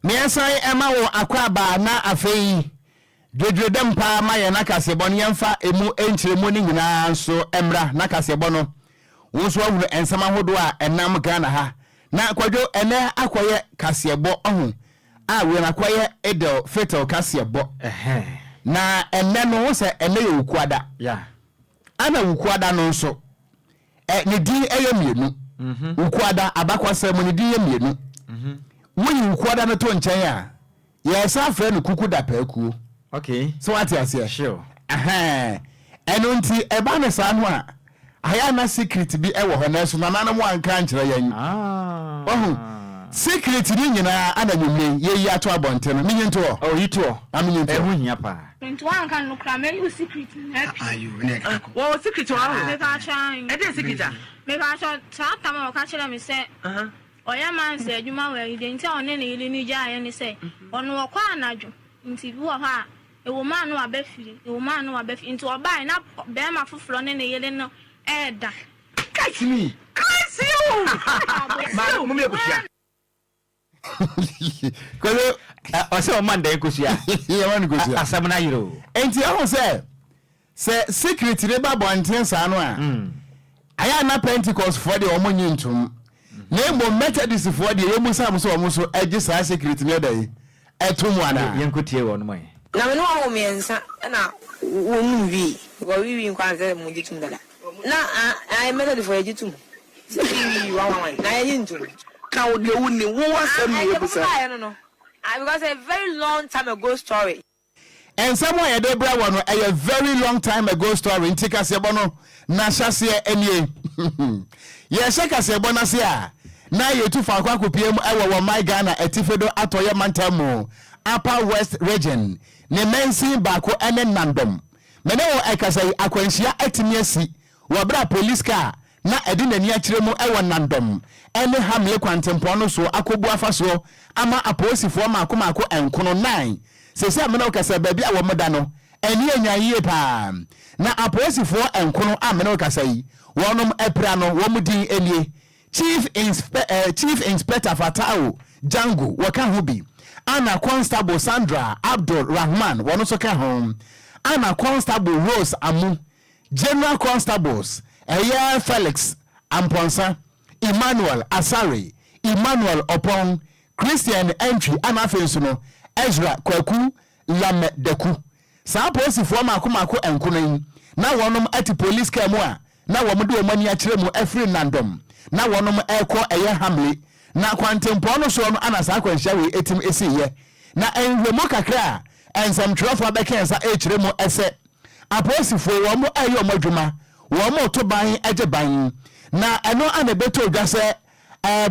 Meɛsan ɛma wo akwaaba na afei. Dwedwedɛm paa ma yɛn akaseɛbɔ no yɛmfa ɛmu nkyerɛmu no nyinaa nso mmra nakaseɛbɔ no wo nso wahunu nsɛm ahodoɔ a ɛnam Ghana ha na kwadwo ɛnɛ akɔyɛ kaseɛbɔ ɔho a wei no akɔyɛ idel fitil kaseɛbɔ na ɛnɛ no wo sɛ ɛnɛ yɛ wukuada ana wukuada no nso Ɛ, ne din yɛ mmienu. Wukuada, abakwasa mu, ne din yɛ mmienu. Woyi wukuada no to nkyɛn a, yɛsan afrɛ no kukudapaakuo. Okay. So wate aseɛ? Sure. Ahaa. Ɛno nti, ɛba no saa no a, ayɛ a na secret bi wɔ hɔ, nanso nananom anka ankyerɛ yɛn. Ah. Wahu? Secret no nyinaa ana nwummere yi, yɛyi ato abɔnten no. Menyi ntoɔ? Oh, yi toɔ. Ma menyi ntoɔ. Ɛho hia paa. Nti wanka no koraa mɛyi wo secret nyinaa pii. Wɔ wɔ secret wɔ hɔ. Mepaakyɛ ayi. Ɛdɛn secret a? Mepaakyɛ saa tam a ɔka kyerɛ me sɛ ɔyɛ mansa adwuma wɔ ayi deɛ nti a ɔne ne yere no gyaa yɛ ne sɛ ɔno ɔkɔ anadwo nti bi wɔ hɔ a ɛwɔ mu a na waba fie ɛwɔ mu a na waba fie nti ɔbaeɛ na barima foforɔ ne ne yere no ɛɛda. Catch me! Crazy o! Maame mo mmiɛ kosua. Kolo ɔsɛ ɔma no dɛn kosua? Yɛma no kosua. Asɛm no ayere o. Nti ɛho sɛ sɛ secret no ba bɔnten saa no a, ayɛ a na Pentecost foɔ deɛ wɔn nye ntom. Na mmom Methodist foɔ deɛ yɛn mu saa mo sɛ wɔn nso agye saa secret no ɛdɛn ɛto mu anaa? Yɛn kɔ tie wɔnom ɛ. Na me ne wɔn wɔ mmiɛnsa na wɔ num wii because wii wii nkoaa nsɛ mo gye tum dada na ae method foɔ yɛ gye tum sɛ wii wii one one one na yɛ nye ntum. Ka wo deɛ wo nim, wo wɔ asɛm na yɛ bisa. Ae deɛ mo bisaeɛ no no ae because ɛyɛ very long time ago story. Nsɛm a yɛde brɛ wɔ no ɛyɛ very long time ago story nti kaseɛbɔ no na hyɛaseɛ ɛnie. Yɛrehyɛ kaseɛbɔ no ase a na yɛtu faako akɔpue mu ɛwɔ wɔ my Ghana atifi do atɔeɛ mantam mu, Upper West Region, ne mansin baako ɛne Nandom. Me ne wo ɛkasa yi akwanhyia atumi asi Wɔ bere a polis kaa a na ɛde n'ani akyerɛ mu wɔ Nandom ne Hamle kwantempɔn no so akobu afa so ama apolisifoɔ mmaako mmaako nkono nnan. Seesei a me ne wo kasa yi, baabi a wɔda no, ani anyan yie pa ara. Na apolisifoɔ nkono a me ne wo kasa yi, wɔnom apira no, wɔn din nie, Chief Insp, Chief Inspector Fatawu Jangu, wɔka ho bi, ana Constable Sandra Abdul Rahman, wɔn nso ka ho, ana Constable Rose Amu, General Constables ɛyɛ Felix Amponsah, Emmanuel Asare, Emmanuel Opong, Christian Antwi ɛna afei nso no Ezra Kwaku Lamɛ Daku. Saa apolisifoɔ mmaako mmaako nkono yi na wɔnom ɛte police car mu a na wɔn de wɔn ani akyerɛ mu ɛfiri Nandom na wɔnom ɛrekɔ ɛyɛ Hamley na kwantempɔn no soɔ no ɛna saa akwanhyia wei ɛtim ɛsiiɛ na ɛnhwɛmu kakra a ɛnsɛmtwerɛfoɔ abɛkɛnsa ɛrekyerɛ mu ɛsɛ Apolisifoɔ wɔn reyɛ wɔn adwuma, wɔreto ban gye ban, na ɛno na ɛbɛtoo dwa sɛ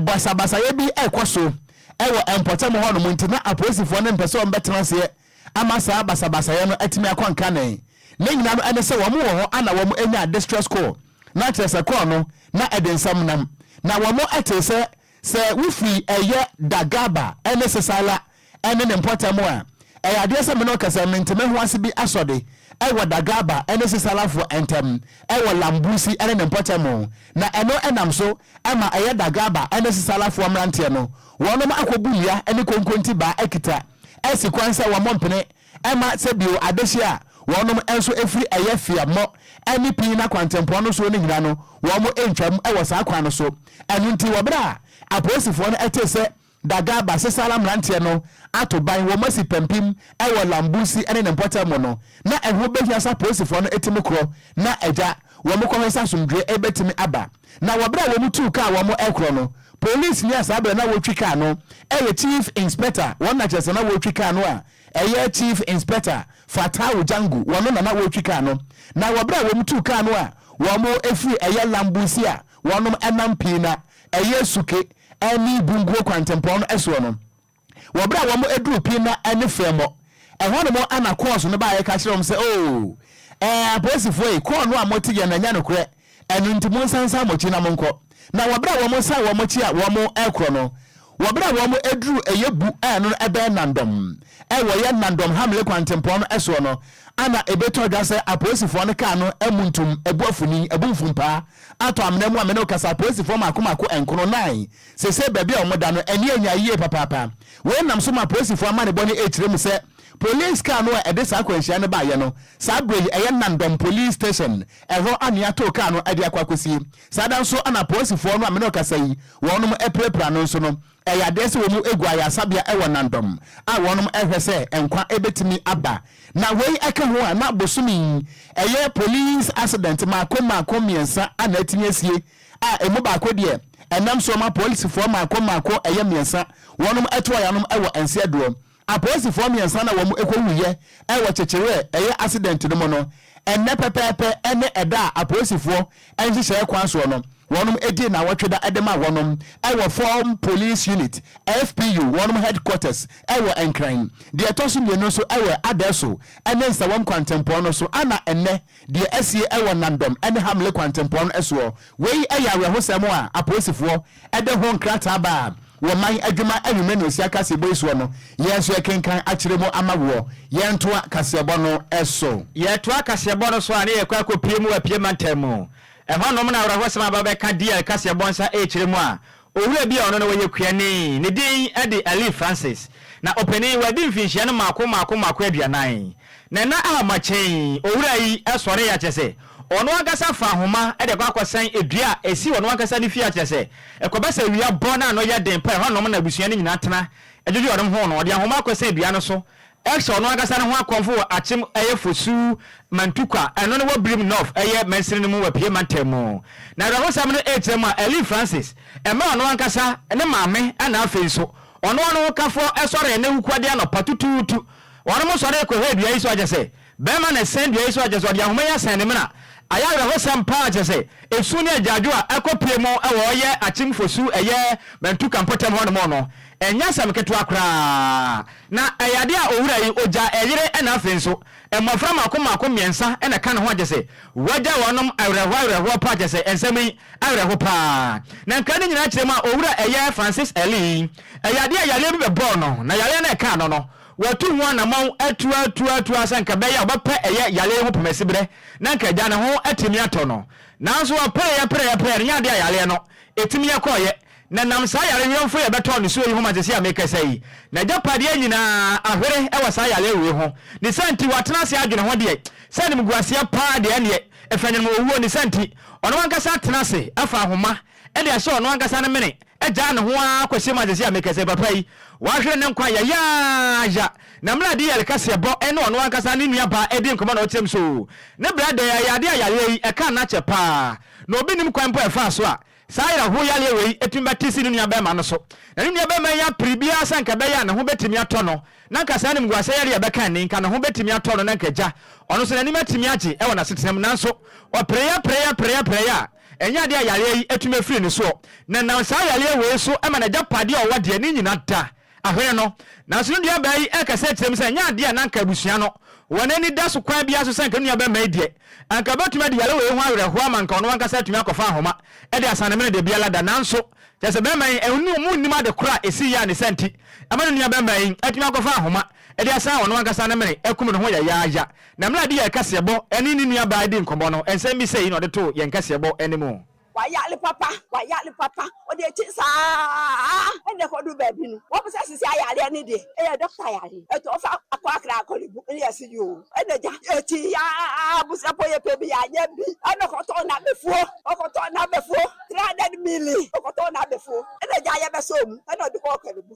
basabasayɛ bi rekɔ so wɔ mpɔtam hɔnom nti na apolisifoɔ no mpɛ sɛ wɔbɛtena aseɛ ama saa basabasayɛ no atumi akɔ nkanee. Ne nyinaa no ɛne sɛ wɔn wɔ hɔ a na wɔn nya distress call, na kyerɛ sɛ call no na ɛde nsɛm nam, na wɔn tee sɛ Sɛ wofiri ɛyɛ Dagaba ne Sesala ne ne mpɔtam a, ɛyɛ adeɛ sɛ me ne ɔkasa mentemehoase bi asɔ de wɔ Dagaba ne Sesalafoɔ ntam wɔ Lambusi ne ne mpɔtam, na ɛno nam so ma ɛyɛ Dagaba ne Sesalafoɔ mmeranteɛ no wɔnom akɔbu nnua ne konkonti baa akita asi kwan sɛ wɔmmɔ mpene Ɛma sɛ bio adehye a wɔnom nso firi ɛyɛ feammɔ ne pii na kwantempɔn no soɔ no nyina no wɔn ntwam wɔ saa kwan no so. Ɛno nti wɔ berɛ a apolisifoɔ no tee sɛ Daga Basesala mmeranteɛ no ato ban wɔn asi pampim wɔ Lambusi ne ne mpɔtam mu no na ɛho bɛhia sɛ apolisifoɔ no ti mu korɔ na agya wɔn kɔhwɛ sɛ asomdwoeɛ bɛtumi aba. Na wɔ berɛ a wɔn tuu kaa wɔn ɛkorɔ no, Police ni a saa berɛ na wɔretwi kaa no ɛyɛ Chief Inspector wɔn na kyerɛ sɛ na wɔretwi kaa no a ɛyɛ Chief Inspector Fattau Jangu wɔn na na wɔretwi kaa no na wɔ berɛ a wɔn tuu kaa no a wɔn firi ɛyɛ Lambusi a wɔn nam Piina ɛyɛ Suke ɛne Bunguo kwantempɔn no soɔ no Wɔ berɛ a wɔduruu Pinna ne Fɛmɔ, ɛhɔ nom na kɔɔso no baeɛ ka kyerɛɛ wɔn sɛ, Oo, ɛɛ, apolisifoɔ yi, kɔɔ no a mote yɛn no ɛnyɛ nokorɛ, ɛno nti monsan nsan mo akyi na monkɔ. Na wɔ berɛ a wɔsan wɔn akyi a wɔrekorɔ no, wɔ berɛ a wɔduruu ɛyɛ bu a ɛno no ɛbɛn Nandɔm, ɛɛ, wɔyɛ Nandɔm Hamle kwantempɔn no soɔ no, ana ɛbɛtɔ dwa sɛ apolisifoɔ no kaa no muntum, abu afuni, abu mfumpaa, atɔ amena mu a me ne wo kasa, apolisifoɔ mmaako mmaako nkono, nan, Seesei baabi a wɔda no ani anya yiye papaapa. Wei nam so ma polisifo amanebɔ no kyerɛ mu sɛ polis kaa no a ɛde saa akwanhyia no baeɛ no, saa berɛ yi ɛyɛ Nandom Police Station, ɛhɔ na wɔatoo kaa no de akɔ akɔsie. Saa da nso na polisifo no a me ne wo kasa yi wɔnom apirapira no nso no, ɛyɛ adeɛ sɛ wɔn gu ayaresabea wɔ Nandom a wɔnom rehwɛ sɛ nkwa bɛtumi aba. Na wei ka ho a na bosome yi ɛyɛ polis asedɛnte mmaako mmaako mmiɛnsa a na atumi asie a ɛmu baako deɛ ɛnam soɔ ma apolisifoɔ mmaako mmaako ɛyɛ mmiɛnsa wɔnom toa yanom wɔ Anseadoɔ. Apolisifoɔ mmiɛnsa na wɔn ɛkɔ wuiɛ wɔ kyekyereɛ ɛyɛ accident no mu no, ɛnnɛ pɛpɛɛpɛ ɛne ɛda a apolisifoɔ nhyehyɛɛ kwan soɔ no wɔnom dii nnawɔtwe da de maa wɔnom wɔ Form Police Unit, FPU, wɔnom headquarters wɔ Nkran. Deɛ ɛtɔ so mmienu nso wɔ Adaeso ne Nsawam kwantempɔn no so a na ɛnnɛ Deɛ asie wɔ Nandom ne Hamle kwantempɔn no soɔ. Wei yɛ awerɛhosɛm a apolisifoɔ de ho nkrataa baa wɔ man adwuma anwummerɛ na ɔsia kaseɛbɔ yi soɔ no, yɛn nso yɛkenkan akyerɛ mu ama woɔ. Yɛntoa kaseɛbɔ no so. Yɛtoa kaseɛbɔ no so a, na yɛkɔ akɔpue mu wɔ Apia mantam mu. Ɛhɔnom na awerɛhosɛm a bɛbɛka DL kaseɛbɔ nsa rekyerɛ mu a, Owura bi a ɔno na ɔyɛ kuani, ne din de Elie Francis, na ɔpanin, wadi mfinhyia no mmaako mmaako mmaako aduanan. Na nna a makyɛ yi, owura yi sɔree akyɛ sɛ ɔno ankasa fa ahoma de akɔ akɔsɛn dua a ɛsi ɔno ankasa ne fie akyerɛ sɛ ɛkɔba sɛ awia bɔ na ano yɛ den pɛ a ɛhɔnom na abusua no nyinaa tena dwodwo wɔnom ho no, ɔde ahoma akɔsɛn dua no so Ɛhyɛ ɔno ankasa ne ho akɔmfo wɔ Akyem ɛyɛ Fosu, Mantukwa, ɛno ne wɔ Birim North ɛyɛ mansini no mu wɔ Pie Mantam mu. N'awerɛhosɛm no ɛrekyerɛ mu a, Ellie Francis, ɛmɛ ɔno ankasa ne maame ɛna afei nso ɔno ɔno ho kafoɔ ɛsɔree ne wukuadeɛ anɔpa tutuutu. Wɔnom sɔree kɔhwɛɛ dua yi so akyɛ sɛ Bɛɛma na ɛsɛn dua yi so a kyerɛ sɛ ɔde ahoma yi asɛn ne mena. Ayɛ awerɛhosɛm paa kyerɛ sɛ esu ne agyaadwo a ɛkɔ pue mu wɔ ɔyɛ Akyem Fosu ɛyɛ Mantuka mpɔtam hɔ nom no ɛnyɛ asɛm ketewa koraa na ɛyɛ ade a owura yi ogya ɛyere ɛna afei nso mmɔfra mako mako mmiɛnsa na ɛka ne ho a kyerɛ sɛ wagya wɔn nom awerɛhoɔ awerɛhoɔ paa kyerɛ sɛ nsɛm yi awerɛho paa na nkra ne nyinaa kyerɛ mu a owura ɛyɛ Francis Ellie ɛyɛ adeɛ a yareɛ bi bɛbɔɔ no na yareɛ no ɛkaa no no Watu ho anamɔn atuatuatua sɛ anka ɛbɛyɛ a ɔbɛpɛ ɛyɛ yale yi ho pɛmɛsiberɛ na anka agya ne ho atumi atɔ no. Nanso ɔpɛeɛ prɛeɛ prɛeɛ no ɛnyɛ adeɛ a yaleɛ no ɛtumi yɛ kɔeɛ. Na ɛnam saa yare werɛmfoɔ yi a ɛbɛtɔɔ ne soɔ yi ho ma seesei a merekasa yi n'agyapadeɛ nyina ara ahwere wɔ saa yaleɛ wei ho. Ne saa nti watena ase adwene ho deɛ sɛ animguaseɛ pa ara deɛ ɛnneɛ ɛfanyɔnoma owuo. Ne saa nti ɔno ankasa atena ase afa ahoma ɛde ahyɛ ɔno ankasa ne mene, agyaa ne ho ara kɔhyɛ mu agyegye a meka sɛ, Papa yi, wahwere ne nkwa yayaaya, na mmerɛ a de yɛre kaseɛbɔ ne ɔno ankasa ne nua baa adi nkɔmmɔ na ɔkyɛm so ne berɛ dɛɛ a yadeɛ a yareɛ yi ɛkaa no akyɛ pa ara, na obi nnim kwan mpo a ɛfaa so a saa awerɛhoɔ yareɛ wei tumi ba te si ne nua barima no so, na ne nua barima yi apere biara sɛ anka ɛbɛyɛ a ne ho bɛtumi atɔ no, na anka saa animguaseɛ yareɛ a ɛbɛka nni, anka ne ho bɛtumi atɔ no na anka agya ɔno nso n'anim atumi agye wɔ n'asetena mu, nanso ɔpereeɛ, pereeɛ, pereeɛ, pereeɛ a Ɛnyɛ adeɛ a yareɛ yi atumi afiri ne soɔ, na ɛnam saa yareɛ wei so ma n'agyapadeɛ a ɔwɔ deɛ ne nyina da ahwene no. Nanso ne nuabaa yi rekasa akyerɛ mu sɛ ɛnyɛ adeɛ a na anka abusua no wɔn ani da so kwan biara so sɛ anka ne nuabarima yi deɛ anka bɛtumi adi yare wei ho awerɛhoɔ ama anka ɔno ankasa atumi akɔfa ahoma de asan ne mene deɛ biara da nanso kyerɛ sɛ barima yi ɔmu nnim ade korɔ a ɛsiiɛ a ne saa nti ɛma ne nuabarima yi atumi akɔfa ahoma de asan ɔno ankasa ne mene akum ne ho yayaaya Na mmerɛ a yɛde yɛn kaseɛbɔ ne ne nuabaa redii nkɔmmɔ no, nsɛm bi sei na ɔde too yɛn kaseɛbɔ no mu. Wayare papa, wayare papa. Ɔde akyi saa ara na ɛkɔduru baabi no, wɔpɛ sɛ sisi ayareɛ no deɛ, ɛyɛ dɔkta yare. Ɛtɔ ɔfa akɔ akra akɔ ne bu ne yɛse yoo. Ɛna gya ɛtii ya ara abusuafoɔ yɛpɛ bi anyɛ bi, ɛna ɔkɔtɔɔ n'abɛfuo, ɔkɔtɔɔ n'abɛfuo, 300 milli, ɔkɔtɔɔ n'abɛfuo. Ɛna gya yɛbɛsɔɔ mu, ɛna ɔde kɔɔ Korle Bu.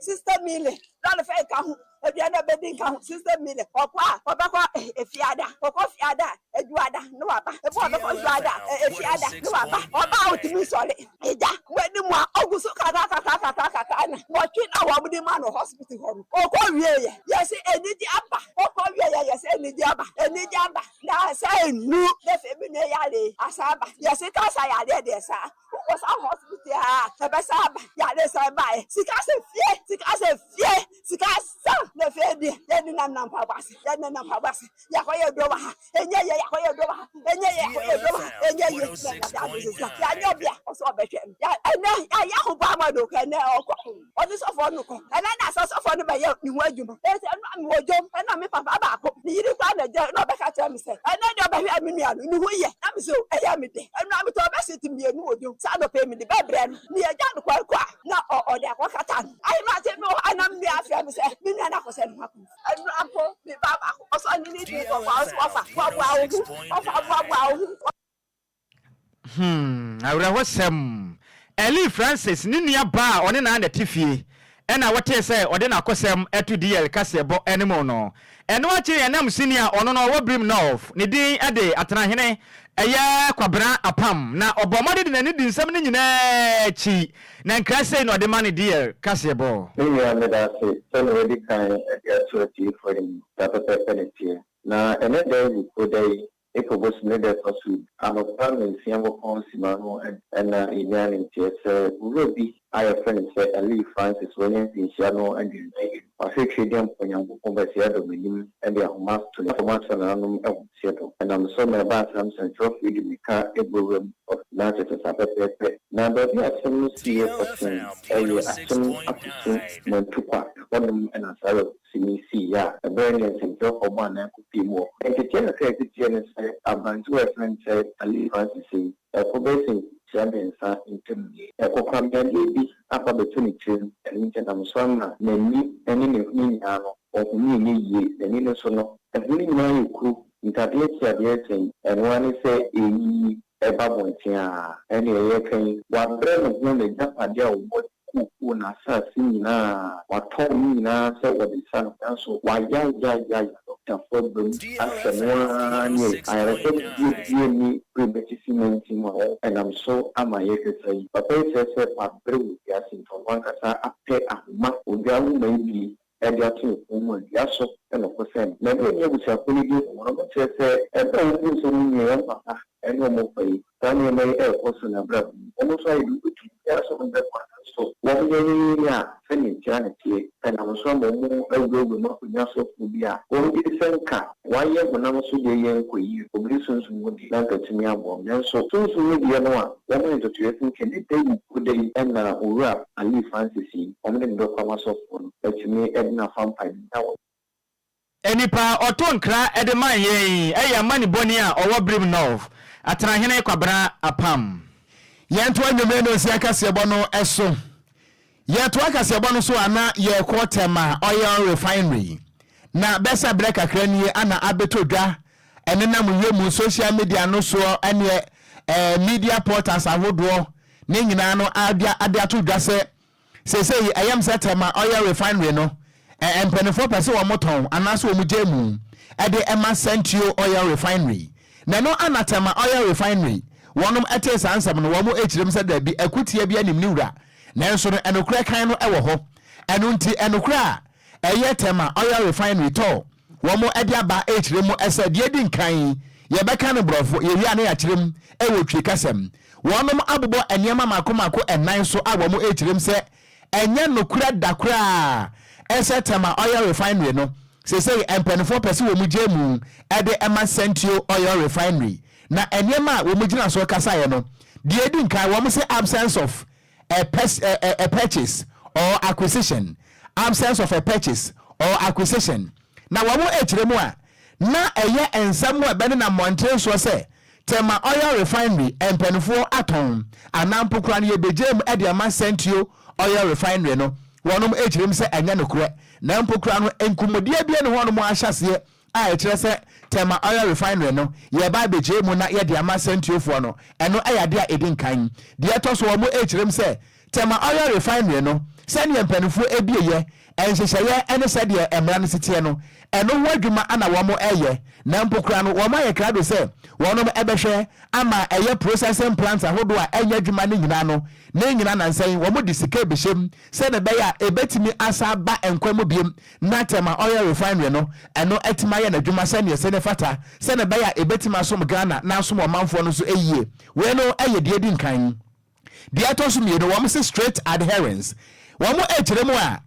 Sister Milly lɔre fɛ nka ho, aduane a ɔbɛdi nka ho. Sister Milly ɔkɔ a ɔbɛkɔ Efiada, ɔkɔ Efiada a, Adwuada na waba. Ebi a ɔbɛkɔ Adwuada a, Efiada na waba. Ɔba a ɔtumi nsɔre. Agya, w'ani mu a ɔgu so kakrakakrakakra no, nwɔtwe na wɔde maa no hospital hɔ no, ɔkɔ wieeɛ. Yɛse anigye aba. Ɔkɔ wieeɛ, yɛse anigye aba. Anigye aba. Nnansa nnum na afei me nua yare yi asan aba. Yɛse cancer yareɛ deɛ saa. Wokɔ saa hospital a ɛbɛsa aba yare san baeɛ sika sɛ fie sika sɛ fie sika sa na fie deɛ yɛne nam nam mpaboa ase yɛne nam nam mpaboa ase yɛakɔ yɛ duro wɔ ha ɛnyɛ yɛ yɛakɔ yɛ duro wɔ ha ɛnyɛ yɛ yɛakɔ yɛ duro wɔ ha ɛnyɛ yɛ na ɛnade ade sɛ sika yɛanyɛ bia ɔsɛ ɔbɛhwɛ no ɛnɛ yɛayɛ ahobammɔ do kɛ ɛnɛ ɔkɔ ɔne sɔfoɔ no kɔ. Ɛnna na saa sɔfoɔ no bɛyɛ ne ho adwuma. Enti ɛno a mewɔ dwom, ɛnna me papa baako, ne yere koraa na ɛgyae, na ɔbɛka kyerɛɛ me sɛ, Ɛnnɛ deɛ ɔbɛhwɛɛ me nua no, ne ho ye. Na mese, O, ɛyɛ me dɛ. Ɛno a metɔɔ bɛset mmienu wɔ dwom. Saa anɔpa yi mede bɛbrɛ no. Nea ɛgyaa no kwan kɔ a, na ɔ, ɔde akɔkata no. Ahemate bi wɔ hɔ a na me nua frɛ me sɛ me nua no akɔsɛ ne ho akɔ mu. Ɛno a mpo, me ba baako, ɔsɔre ne ne din kɔboa wo sɛ wɔfa, boaboa wo ho, wɔfa, boaboa wo ho. Hmm, awerɛhosɛm! Ellie Francis ne nua baa a ɔne no ara na ɛte fie na wɔtee sɛ ɔde n'akosɛm to DL kaseɛbɔ no mu no. Ɛno akyi no, yɛnam sini a ɔno na ɔwɔ birim North, ne din de Atenahene, ɛyɛ Kwabena apam, na ɔbɔɔ mmɔden de n'ani dii nsɛm no nyinaa akyi, na nkra sei na ɔde ma no DL kaseɛbɔ. Me nua, meda ase sɛ nea wadi kan de ato atiefo anim na pɛpɛɛpɛ na ɛteɛ. Na ɛnnɛ da yi, Oda yi, Epo bosu ne dɛ kɔ sor. Abofra no nsua wɔ pon si ma no na yenya ne ntseɛ. Sɛ owura bi a yɛfrɛ no Sir Elie Francis oenya mfinhyia no nnwen no ewie no, ɔhwɛ twi dɛ mpo Nyankopɔn bɛsea dɔm enyim de ahoma ato ne koma so na anom ahomtseɛ do. Nam so ma ɛbaa saa nsɛnkyerɛwfo yi de mirika bɔ wuram wɔ n'akyesesa pɛpɛɛpɛ. Na beebi a asɛm no si yɛ kɔsen yɛ akyem afotu ma ntukwa, hɔnom na saa awerɛhow. sini sii yɛ a, ɛbɛyɛ nea nsɛmtwerɛfoɔ bɔ anan kɔ pii mu wɔ ho. Nteteɛ kakra a ɛte teɛ ne sɛ aberantewa a yɛfrɛ no sɛ Alice Francis yi, ɛko bɛyɛ sɛ mfirihyia mmiɛnsa ntam ni. Ɛkokoram yadeɛ bi akɔ abɛto ne tirim, ɛno nti ɛnam so ara ma n'ani ne ne hwene nyinaa no, ɔhome nyɛ yie. N'ani no so no, ɛhɔ no nyinaa ayɛ kuru, ntadeɛ ntiadeɛ resɛn, ɛno ara ne sɛ ɛreyiyi. ɛba mmɔnten a, ɛnne ɛyɛ ka yi. Wabrɛ ne ho n'agyapade a ɔwɔ de kookoo n'asase nyina a, watɔn ne nyinaa sɛ ɔde sa no, nanso wayayayayae ɔdafo abam ahwɛ no ara ne ayaresa biabia ne bere atifi nantin a ɛnam so ama yɛkasa yi. Papa yi kyerɛ sɛ wabrɛ wɔ wiase nti ɔno ankasa apɛ ahoma odwa nwoma yi bi na de ato wɔn mu dua so na ɔko sɛn no. Mɛde ɛne abusuakuo no din wɔ wɔn kyerɛ sɛ ɛberɛ a wɔn hu sɛ wɔn nua yɛ wɔn papa ne wɔn mfa yi. Saa nneɛma yi rekɔ so na abrabɔ mu wɔn nso ayɛ dodo enti obiara so ho bɛkɔ nanso wɔn yɛ yɛ yɛ yɛ a sɛdeɛ nkyea na ɛteɛ. Ɛnam so ama wɔn awurawura mu akonnwa so obi a wɔn gyedisɛm ka Wɔayɛ honam so deɛ yɛ nkɔ yie, obi de sunsum mu deɛ na anka atumi aboam. Nanso sunsum mu deɛ no a wɔayɛ ntotoeɛ sɛ sɛ ne da yi wo da yi na Owura Alii Francis yi, wɔde no bɛkɔ ama sɔfoɔ no atumi de no afa mpaebɔ mu na wɔn. Nipa a ɔtoo nkra de mae yɛn yi yɛ amanibɔni a ɔwɔ Brim North, Atenahene Kwabena Apam. Yɛntoa nnwomee no nsi akaseɛbɔ no so. Yɛtoa kaseɛbɔ no so a na yɛkɔ Tema Oil Refinery, na bɛsa berɛ kakra nie ana abɛtɔ dwa ɛnenam yɛ mu social media no soɔ ɛneɛ eh, media portals ahodoɔ no nyinaa no adea ade ato dwa sɛ seesei ɛyɛ me sɛ Tema Oil Refinery no eh, mpaninfoɔ pɛ sɛ wɔn tɔn anaasɛ wɔn gyae mu ɛde ɛma Santio Oil Refinery. Na ɛno ana Tema Oil Refinery wɔnom ɛtee saa nsɛm no wɔn ɛkyirem sɛ daabi akutia bi anim ne wura Nanso no, nokorɛ kann no wɔ hɔ. Ɛno nti, nokorɛ a ɛyɛ tɛma, oil refinery, tɔ, wɔn de aba rekyerɛ mu sɛ, deɛ edi nkan, yɛbɛka no borɔfo, yɛwie a na yɛakyerɛ mu wɔ Twi kasa mu. Wɔnom abobɔ nneɛma mmaako mmaako nnan so a wɔn rekyerɛ mu sɛ, ɛnyɛ nokorɛ da koraa sɛ tɛma, oil refinery, no, seesei mpanifoɔ pɛ sɛ wɔn gyae mu de ma Sentio oil refinery, Na nneɛma a wɔgyina so kasaeɛ no, deɛ ɛdi nkan, wɔse absence of a pers a, a, a purchase or acquisition, absence of a purchase or acquisition. Na wɔkyerɛ mu a, na ɛyɛ nsɛm a ɛbɛnenam mmɔntene soɔ sɛ, Tema Oil Refinery mpanifoɔ atɔn anaa mpo koraa no yɛbɛgyaa mu de ama Sentio Oil Refinery no, wɔnom kyerɛ mu sɛ ɛnyɛ nokorɛ, na mpo koraa no nkɔmmɔdie biara nni hɔ a wɔahyɛ aseɛ a ɛkyerɛ sɛ Tema Oil Refinery no, yɛreba abɛgyae mu na yɛde ama sɛntuofoɔ no, ɛno yɛ adeɛ a ɛdi nkan. Deɛ ɛtɔ so, wɔrekyerɛm sɛ Tema Oil Refinery no, sɛdeɛ mpanimfoɔ abieɛ, nhyehyɛeɛ ne sɛdeɛ mmara no si teɛ no, ɛno ho adwuma na wɔreyɛ, na mpo koraa no wɔayɛ krado sɛ wɔbɛhwɛ ama ɛyɛ processing plants ahodoɔ a ɛnyɛ adwuma no nyinaa no, ne nyinaa nansa yi wɔde sika abɛhyɛm sɛdeɛ ɛbɛyɛ a ɛbɛtumi asan aba nkwa mu bio na tema oil refinery no, ɛno atumi ayɛ n'adwuma sɛdeɛ ɛsɛ na ɛfata, sɛdeɛ ɛbɛyɛ a ɛbɛtumi asom Ghana na asom ɔmanfoɔ no nso yie. Wei no yɛ deɛ ɛdi nkan. Deɛ ɛtɔ so mmienu, wɔse straight adherence. Wɔkyerɛ mu a,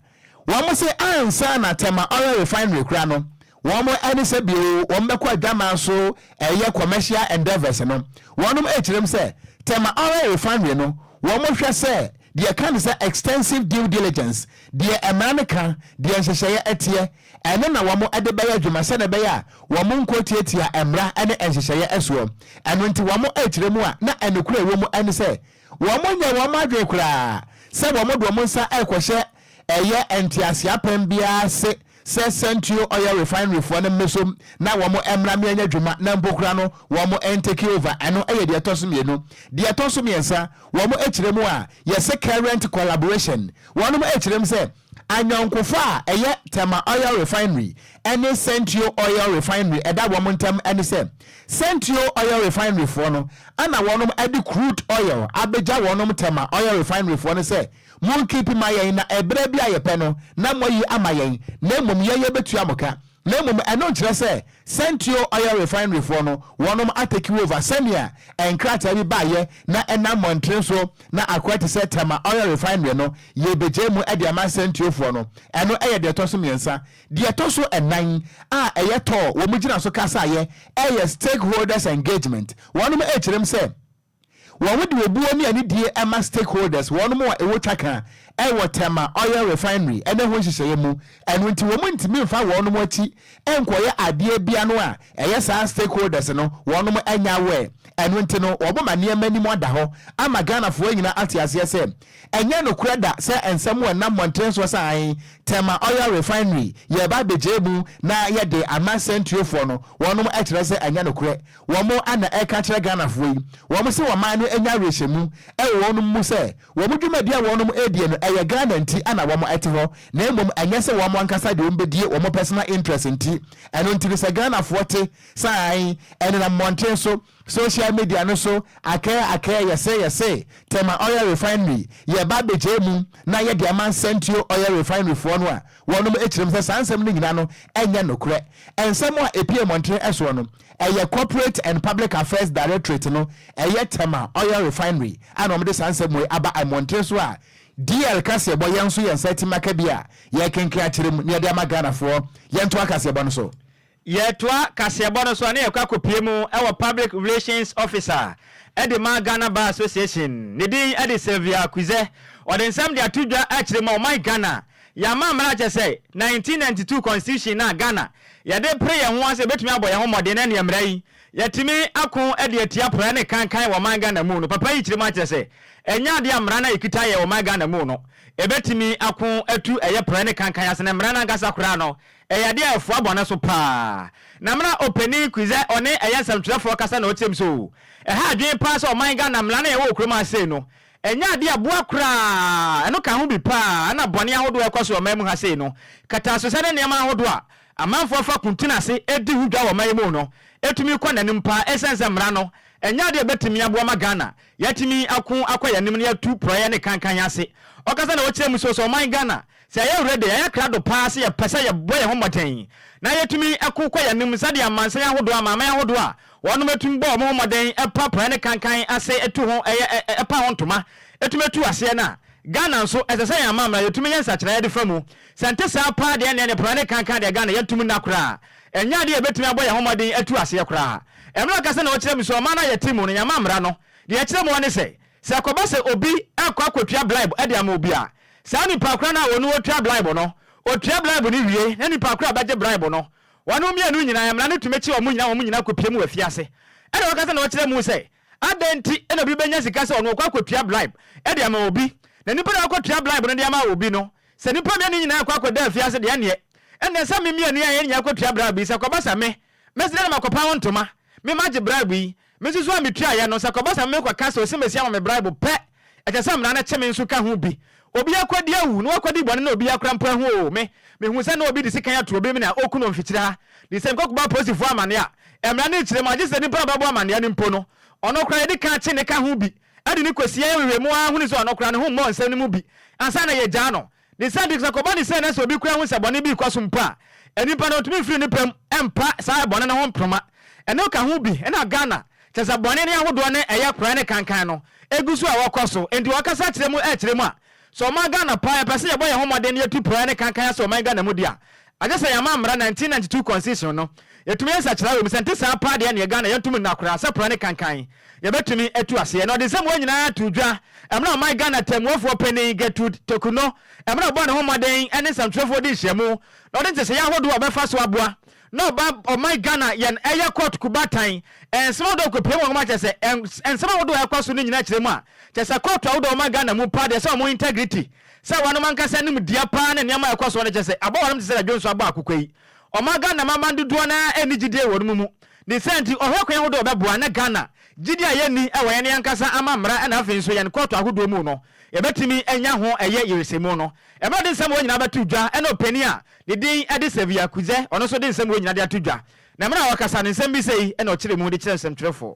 wɔse ansa na Tema Oil Refinery koraa no, wɔn ne sɛ bio wɔbɛkɔ adwaman so reyɛ commercial endeavours no, wɔnom kyerɛ mu sɛ Tema Oil Refinery no, wɔhwɛ sɛ Deɛ ɛka ne sɛ extensive due diligence, deɛ mmara no ka, deɛ nhyehyɛeɛ teɛ, ɛno na wɔn de bɛyɛ adwuma sɛdeɛ ɛbɛyɛ a wɔn nkɔ tiatia mmara ne nhyehyɛeɛ soɔ. Ɛno nti wɔn rekyerɛ mu a na nokorɛ a ɛwɔ mu ne sɛ wɔn nyɛ wɔn adwene koraa sɛ wɔn de wɔn nsa rekɔhyɛ Ɛyɛ ntease apɛn biara se sɛ Century Oil Refinery foɔ no mmesom na wɔn mmra mmeanya dwuma na mpo koraa no wɔn ntake over, ɛno yɛ deɛ ɛtɔ so mmienu. Deɛ ɛtɔ so mmiɛnsa, wɔn kyerɛ mu a yɛse current collaboration, wɔnom kyerɛ mu sɛ anyɔnkofa a ɛyɛ Tema Oil Refinery ne Century Oil Refinery ɛda wɔn ntam ne sɛ Century Oil Refinery foɔ no ana wɔnom de crude oil abegya wɔnom Tema Oil Refinery foɔ no sɛ Monkeep ma yɛn na ɛberɛ bi a yɛpɛ no na moayi ama yɛn na mmom yɛn yɛbɛtua mo ka. Na mmom ɛno nkyerɛ sɛ Sentio Oil Refinery foɔ no wɔnom atake over sɛnea nkrataa bi baeɛ na ɛnam mmɔntene so na akoa te sɛ Tema Oil Refinery no yɛbɛgyae mu de ama Sentio foɔ no. Ɛno yɛ deɛ ɛtɔso mmiɛnsa. Deɛ ɛtɔso nnan a ɛyɛ tɔɔ wɔn gyina so kasaeɛ yɛ Stakeholders Engagement. Wɔnom ɛkyerɛm sɛ. Wɔn de obuo ne anidie ɛma stakeholders, wɔnom a ɛwɔ twaka ɛwɔ Tema oil refinery ɛne ho nhyehyɛeɛ mu, ɛno nti wɔn ntumi mfa wɔnom akyi nkɔyɛ adeɛ bia no a ɛyɛ saa stakeholders no wɔnom ɛnyɛ aware, ɛno nti no wɔn ma nneɛma anim ada hɔ ama Ghanafoɔ nyinaa ate aseɛ sɛ ɛnyɛ nokorɛ da sɛ nsɛm a ɛnam mmɔntene soɔ sɛ ae Tema oil refinery yɛreba abɛgyae mu na yɛde ama sɛntuofoɔ no wɔnom ɛkyerɛ sɛ ɛnyɛ nokorɛ, Wɔn na ɛreka kyerɛ Ghanafoɔ yi, wɔn se wɔn man no anya awerɛhyɛmu wɔ wɔnom mu sɛ wɔn dwumadie a wɔnom redie no ɛyɛ Ghana nti na wɔn te hɔ na mmom ɛnyɛ sɛ wɔn ankasa de wɔn bɛdie wɔn personal interest nti. Ɛno nti no sɛ Ghanafoɔ te saa a ɛnenam mmɔnten so, social media no so akɛɛ akɛɛ yɛse yɛse Tema Oil Refinery yɛreba abɛgyae mu na yɛde ama Nsɛntuo Oil Refinery foɔ no a wɔnom kyerɛ mu sɛ saa nsɛm no nyina no ɛnyɛ nokorɛ nsɛm a ɛpue mmɔnten soɔ no. Ɛyɛ Corporate and Public Affairs Directorate no ɛyɛ Tema Oil Refinery a na wɔde saa nsɛm wei aba mmɔnten so a DR kaseɛbɔ yɛn nso yɛn nsa atim aka bi a yɛrekenken akyerɛ mu na yɛde ama Ghanafoɔ. Yɛntoa kaseɛbɔ no so. Yɛretoa kaseɛbɔ no so a na yɛkɔ akɔpue mu wɔ Public Relations Officer de ma Ghana Bar Association, ne din de Sylvia Kuze. Ɔde nsɛm de ato dwa akyerɛ mu a ɔman Ghana Yɛama mmara a kyerɛ sɛ 1992 Constitution no a Ghana yɛde pere yɛn ho ase sɛ yɛbɛtumi abɔ yɛn ho mmɔden na ɛneɛ mmara yi yɛatumi ako de atia praa ne kankan wɔ ɔman Ghana mu no papa yi kyerɛ mu akyerɛ sɛ ɛnyɛ adeɛ a mmara no a yɛkita yɛ wɔ ɔman Ghana mu no ɛbɛtumi ako atu ɛyɛ praa ne kankan ase na mmara no ankasa koraa no ɛyɛ adeɛ a ɛfoa bɔne so paa na mmara opanin Kwizɛ ɔne ɛyɛ nsɛmtwerɛfoɔ kasa na ɔteam sɛ oo ɛha adwene paa sɛ ɔman Ghana mmara no a yɛwɔ wɔ kurom ha sei no Ɛnyɛ ade a ɛboa koraa. Ɛno ka ho bi paa na bɔne ahodoɔ a ɛkɔ so wɔ ɔman mu ha sei no. Kataasesa ne nneɛma ahodoɔ a amanfoɔ fa ko tena ase di ho dwa wɔ ɔman yi mu no tumi kɔ n'anim paa ɛsiane sɛ mmara no nyɛ ade a ɛbɛtumi aboa ma Ghana yɛatumi ako akɔ yɛn anim na yɛatu porɔeɛ ne kankan ase. Ɔkasa na ɔkyerɛ mu so sɛ ɔman Ghana Sɛ yɛyɛ werɛ de, ɛyɛ krado paa sɛ yɛpɛ sɛ yɛbɔ yɛn ho mmɔden na yɛtumi ko kɔ yɛn anim sɛdeɛ amansan ahodoɔ, amanaman ahodoɔ a wɔnom tumi bɔ wɔn ho mmɔden pa praeɛ ne kankan ase tu ho yɛ, pa ho ntoma tumi tu aseɛ no a. Ghana nso, ɛsɛ sɛ yɛn amammra yɛtumi yɛ nsakyeraɛ de fa mu. Sɛ ɛnte saa paa deɛ ɛnneɛ ne praeɛ ne kankan deɛ Ghana yɛntumi nna koraa. Ɛnyɛ adeɛ a yɛbɛtumi abɔ yɛn ho mmɔden atu aseɛ koraa. Ɛmmerɛ ɔka sɛ na ɔkyerɛ mu sɛ ɔman no a yɛte mu no yɛn amammra no deɛ ɛkyerɛ mu ara ne sɛ, sɛ ɛkɔba sɛ obi rekɔ akɔtua blaebo de ama obi a, Saa nnipa korɔ no a wɔne wɔtua braibo no, wɔtua braibo no wie, na nnipa korɔ a ɔbɛgye braibo no, wɔn mmienu nyina ɛ, mmara no tumi kye wɔn nyina, wɔn nyina kɔpue mu wɔ afiase. Ɛna wɔkasa na wɔkyerɛ mu sɛ, Adɛn nti na obi bɛnya sika sɛ ɔno ɔkɔ akɔtua braibo de ama obi, na nnipa na wɔkɔtua braibo no de ama obi no, sɛ nnipa mmienu nyina rekɔ akɔda afiase deɛ ɛnneɛ, ɛnneɛ sɛ me mmienu yi a yɛn nyina kɔtua braibo yi, sɛ ɛkɔba sɛ me, mɛsrɛ na makɔpa wo ntoma, me magye braibo yi, Me nso so a mitua yɛ no, sɛ ɛkɔba sɛ merekɔka sɛ osiamasi ama me braibo pɛ, ɛkyɛ sɛ mmara no kye me nso ka ho bi. Obi akodi awu, na wakodi bɔne na obi akora mpo ahu oo, me, mihu sɛ na obi de sekan ato obi mene a oku no mfikyiri ha, de sɛ mekɔkɔbɔ apolisifo amanneɛ a, mmara no rekyere mu a, gye sɛ nipa a ɔbɛbɔ amanneɛ no mpo no, ɔno koraa yɛde kan kye ne ka ho bi, de no kosi yɛn awiei mu ara hunu sɛ ɔno koraa ne ho mmɔɔ nsɛm no mu bi ansa na yɛagyaa no. Ne saa nti, sɛ ɛkɔba no sɛ na sɛ obi koraa hu sɛ bɔne bi rekɔ so mpo a, nnipa no ntumi mfiri ne pɛ mu mpa saa bɔne no ho mproma. Ɛno ka ho bi na Ghana, kyerɛ sɛ bɔne no ahodoɔ ne ɛyɛ koraa ne kankan no, ɛgu so a ɛwɔ kɔ so. Enti wɔkasa kyerɛ mu kyerɛ mu a, sɛ ɔman Ghana paa yɛpɛ sɛ yɛbɔ yɛn ho mmɔden na yɛtu pɔɛ ne kankan ase wɔ ɔman Ghana mu deɛ a, Agye sɛ yɛama mmara 1992 Constitution no yɛtumi yɛ nsakyeraɛ wɔ mu, sɛ ɛnte saa paa deɛ neɛ Ghana yɛntom nna koraa sɛ pra ne kankan yɛbɛtumi atu aseɛ. Na ɔde nsɛmua nyinaa too dwa mmerɛ a ɔman Ghana tɛmmuafoɔ panin Gertrude Teku no mmerɛ a ɔbɔɔ ne ho mmɔden ne nsɛmtwerɛfoɔ dii nhyiamu na ɔde nteseɛ ahodoɔ a ɔbɛfa so aboa na ɔba ɔman Ghana yɛn ɛyɛ court ku baatan nsɛm ahodoɔ a kɔpue mu wɔ nwoma kyerɛ sɛ nsɛm ahodoɔ a ɛkɔ so no nyinaa kyerɛ mu a kyerɛ sɛ court ahodoɔ a ɔman Ghana mu paa deɛ sɛ wɔn integrity Sɛ wɔnom ankasa nim deɛ paa ne nneɛma a ɛkɔ soɔ no kyɛ sɛ abɔ wɔnom te sɛ da Dwonso abɔ akokwa yi. Ɔma Ghana manman dodoɔ no ara nni gyidie wɔ wɔnom mu. Ne saa nti ɔhwɛ kwan ahodoɔ a ɔbɛboa na Ghana gyidie a yɛnni wɔ yɛne yɛn ankasa amammra na afei nso yɛn kɔɔto ahodoɔ mu no yɛbɛtumi anya ho ɛyɛ yeresɛmu no. Ɛma ɔde nsɛm wɔ nyinaa bɛto dwa ɛna ɔpanin a ne din de Saviour Kudzɛ ɔno nso de nsɛm wɔ nyinaa de ato dwa. Na mmerɛ a ɔkasa no nsɛm bi sɛi na ɔkyerɛ mu de kyerɛ nsɛmtwerɛfoɔ.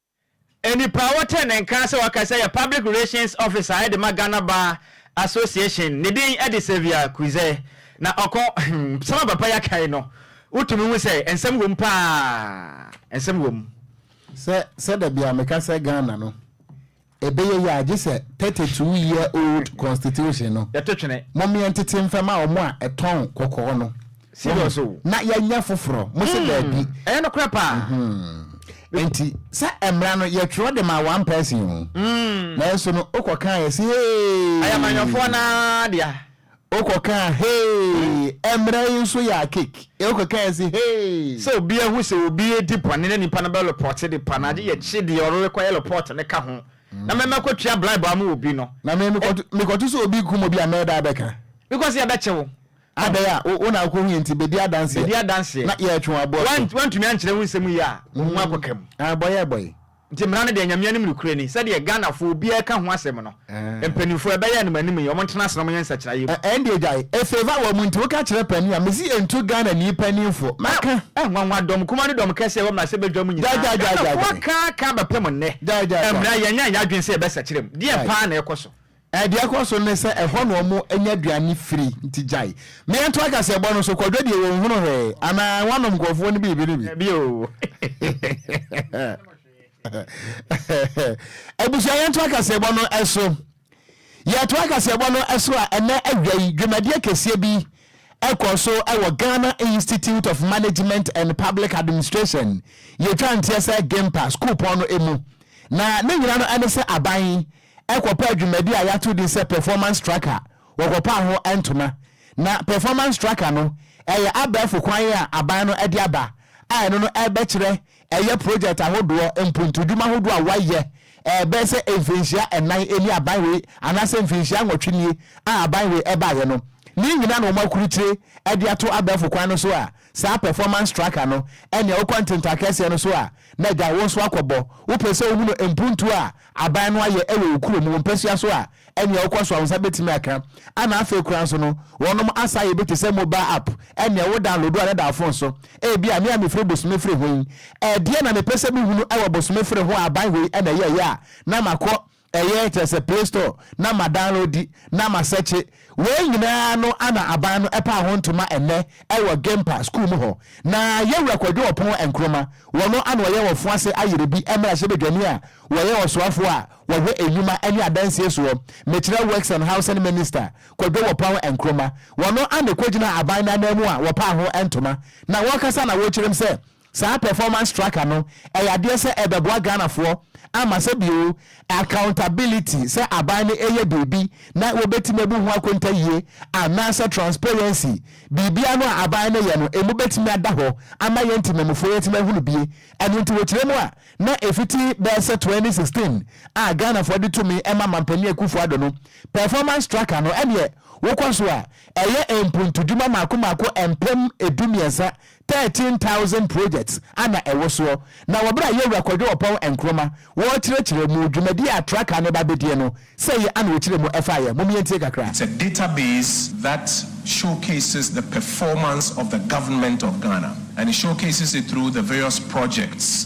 Nnipa a ɔwɔ trenee nka sɛ ɔka sɛ yɛ public relations officer de ma Ghana Bar Association ne din de Saviour Kuze na ɔkɔ nsɛm a papa yi aka yi no wotumi hu sɛ nsɛm wɔ mu paa nsɛm wɔ mu. Sɛ sɛ da biara meka sɛ Ghana no Ebeye ye a gye sɛ thirty two year old constitution no Yɛto twene. momeɛ ntete mfa ma ɔmo a ɛtɔn kɔkɔɔ no Serious wahu o. na yɛanya foforɔ mose daabi Mm, ɛyɛ nokorɛ paa. Mehwɛ. Enti sɛ mmra no yɛtwerɛ de ma one person o Mm. nanso no wokɔkaeɛ se hee. Ɛyɛ amanyɔfoɔ no ara dea. Wokɔkaa hey! Ɛmmerɛ yi nso yɛ akek e wokɔkaa si hey! Sɛ obi ahu sɛ obi redi bɔne na nipa no bɛ lopɔte nipa no agye yɛkye deɛ ɔrekɔyɛ lopɔte no ka ho na mɛmɛ kɔ tua blaebo ama obi no. Na me mekɔto sɛ obi kum obi a mɛɛda abɛka. Because yɛbɛkye wo. Adɛn a wo na wokɔ hu yɛ nti bɛdi adanseɛ. Bɛdi adanseɛ. Na yɛɛtwe wo aboɔ so. Woantumi ankyerɛ wo nsɛm yi a wo ho akɔka mu. Bɔyɛ bɔyɛ. Nti mmara no deɛ Nyame anim nokorɛ ni sɛdeɛ Ghanafoɔ obiara ka ho asɛm no mpaninfoɔ ɛbɛyɛ nom anim yi ɔmo ntena ase na ɔmo nyɛ nsakyeraeɛ mu. Ɛndeɛ gyae ɛfeefa wɔ mu nti woka kyerɛ panin a mesi ɛntu Ghana ni paninfoɔ mɛka. Ɛh nwanwa dɔm kumaa ne dɔm kɛseɛ ɛwɔ mmarahyɛ badwa mu nyinaa Ghanafoɔ aka aka abɛpem nnɛ mmra yɛnyɛ yɛn adwene sɛ yɛbɛsakyera mu deɛn paa na ɛkɔ so. Deɛ ɛkɔ so ne sɛ ɛhɔ na wɔnya aduane firi, nti gyae. Mmea nto akaseɛbɔ no so, kwadwo deɛ wɔnhunu hwee, anaa wɔanom nkurɔfoɔ no biribi no bi. Dabi o. Abusua yɛnto akaseɛbɔ no so. Yɛto akaseɛbɔ no so a, ɛnɛ awia yi, dwumadie kɛseɛ bi ɛkɔ so wɔ Ghana Institute of Management and Public Administration, yɛtwa nteɛ sɛ GIMPA, sukuupɔn no mu. Na ne nyina no ɛne sɛ aban kɔpaa dwumadi a yɛato din sɛ Performance Tracker, wɔkɔpaa ho ntoma. Ná Performance Tracker no yɛ abɛɛfo kwan a aban no de aba a ɛno no ɛrebɛkyerɛ ɛyɛ projɛt ahodoɔ, mpontodwuma ahodoɔ a wɔayɛ bɛyɛ sɛ mfinhyia nnan ni aban wei anaasɛ mfinhyia nwɔtwe nie a aban wei baeɛ no. Ne nyinaa na wɔakurukyire de ato abɛɛfo kwan no so a Saa performance tracker no ɛnea wokɔ ntenta akɛseɛ no so a na agya wonso akɔ bɔ. Wopɛ sɛ wohunu mpuntuo a aban no ayɛ wɔ wo kurom, wo mpasua so a ɛnea wokɔ so a wo nsa bɛtumi aka. Ɛna afei koraa nso no wɔnom asa yɛ bi te sɛ mobile app ɛnea wo download a na da wo phone so. Ebia me a mefiri Bosome Firi ho yi, ɛdeɛn na mepɛ sɛ mehunu wɔ Bosome Firi ho a aban hɔ yi na ɛyɛeɛ a na makɔ Ɛyɛ kyerɛ sɛ play store na ma downloadi na ma sɛkye wei nyinaa no ana aban no ɛpaa ho ntoma ɛnɛ ɛwɔ Gempa school mu hɔ na yɛwura Kwadwo Ɔpon Nkrumah wɔno ana ɔyɛ wɔ Foase ayere bi mmarahyɛ badwani a wɔyɛ ɔsoafoɔ a wɔhwɛ nnwuma ɛne adansie soɔ mekyerɛ Works and Housing Minister Kwadwo Ɔpon Nkrumah wɔno ana ɛkɔgyinaa aban no ananmu a wɔpaa ho ntoma na wɔkasa na wɔkyerɛm sɛ Saa performance tracker no ɛyɛ adeɛ sɛ ɛbɛboa Ghanafoɔ ama sɛ bio accountability sɛ aban no ɛyɛ biribi na wɔbɛtumi abu ho akontayie anaasɛ transparency biribiara no a aban no yɛ no ɛmu bɛtumi ada hɔ ama yɛn ntimamufoɔ yɛatumi ahunu bie ɛno nti wɔkyerɛ mu a na ɛfiti bɛyɛ sɛ 2016 a Ghanafoɔ de tumi ma Mampanin Akuffo Addo no performance tracker no ɛneɛ wokɔ so a ɛyɛ mpuntudwuma mako mako mpem du mmiɛnsa Thirteen thousand projects a na ɛwo soɔ, na wɔ berɛ a Yawura Kwadwo Oppong Nkrumah wɔɔkyerɛkyerɛ mu dwumadie a Traka no ba bɛdie no, sɛ yi ana ɔkyerɛ mu ɛfaeɛ, mom yɛntie kakra. It's a database that showcases the performance of the government of Ghana and it showcases it through the various projects.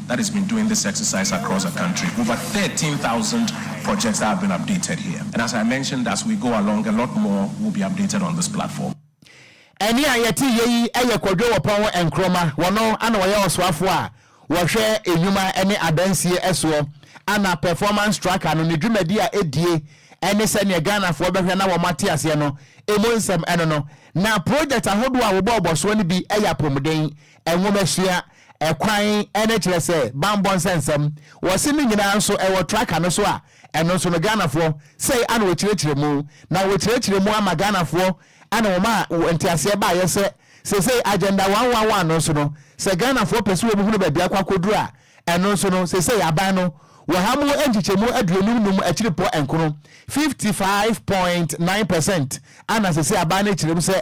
that has been doing this exercise across the country, over thirteen thousand projects that have been updated here and as I mentioned as we go along a lot more will be updated on this platform. Ɛnne a yɛte yɛ yi yɛ Kwadwo Wɔpɔn Nkroma, wɔno na wɔyɛ ɔsoafoɔ a wɔhwɛ nnwuma ne adansie soɔ ana Performance Tracker no ne dwumadi a ɛdie ne sɛdeɛ Ghanafoɔ bɛhwɛ na wɔn ate aseɛ no ɛmu nsɛm ɛno no na project ahodoɔ a wɔbɔɔbɔ soɔ no bi yɛ apɔmuden Nwomasua, Ɛkwan ne kyerɛ sɛ bammɔ nsɛnsɛm wɔ se no nyinaa nso ɛwɔ traka no so a ɛno nso no Ghanafoɔ sɛi ana wɔkyerɛkyerɛ mu na wɔkyerɛkyerɛ mu ama Ghanafoɔ ɛna wɔma nteaseɛ baeɛ sɛ sesei agenda one one one no nso no sɛ Ghanafoɔ pɛ sɛ wɔn hunu baabi akɔ akɔduru a ɛno nso no sesei aban no wɔ ha mu nkyekyɛmu aduonum num akyirepɔ nkono fifty five point nine percent ana sesei aban no kyerɛ mu sɛ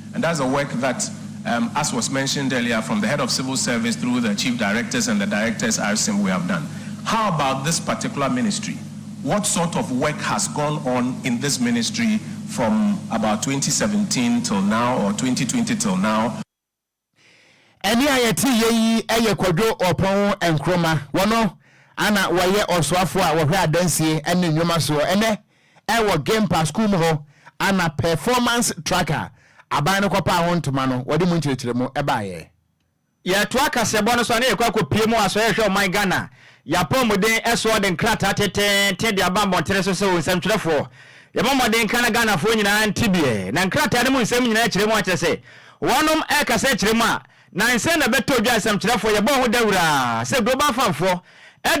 And that's the work that um, as was mentioned earlier from the head of civil service through the chief directors and the directors RSIM we have done. How about this particular ministry? What sort of work has gone on in this ministry from about 2017 till now or 2020 till now? Ɛne a yɛte yɛ yi yɛ Kwadwo Ɔpɔn Nkrumah. Wɔno ana wɔyɛ ɔsoafo a wɔhwɛ adansie ne nnwuma soɔ. Ɛnɛ Wɔ Gempa Sukuu mu hɔ na Performance Track a aban no kɔpaa ho ntoma no wɔde mu nkyerɛkyerɛmu baeɛ. Yɛtoa kaseɛbɔ no so a na yɛkɔ akɔpue mu wɔ Asɔre a Ɛhwɛ Ɔman Ghana Yɛn Apɔwmuden soɔ de nkrataa teteete de aba mmɔntene so sɛ Onsɛmtwerɛfoɔ, yɛbɔ mmɔden ka na Ghanafoɔ nyinaa nte bi. Na nkrataa no mu nsɛm nyinaa kyerɛ mu ara kyerɛ sɛ wɔnom ɛkasa kyerɛ mu a Nansa na bɛtɔɔ dwa nsɛmkyerɛfoɔ yɛbɔɔ ho dawura sɛ Global Fund-foɔ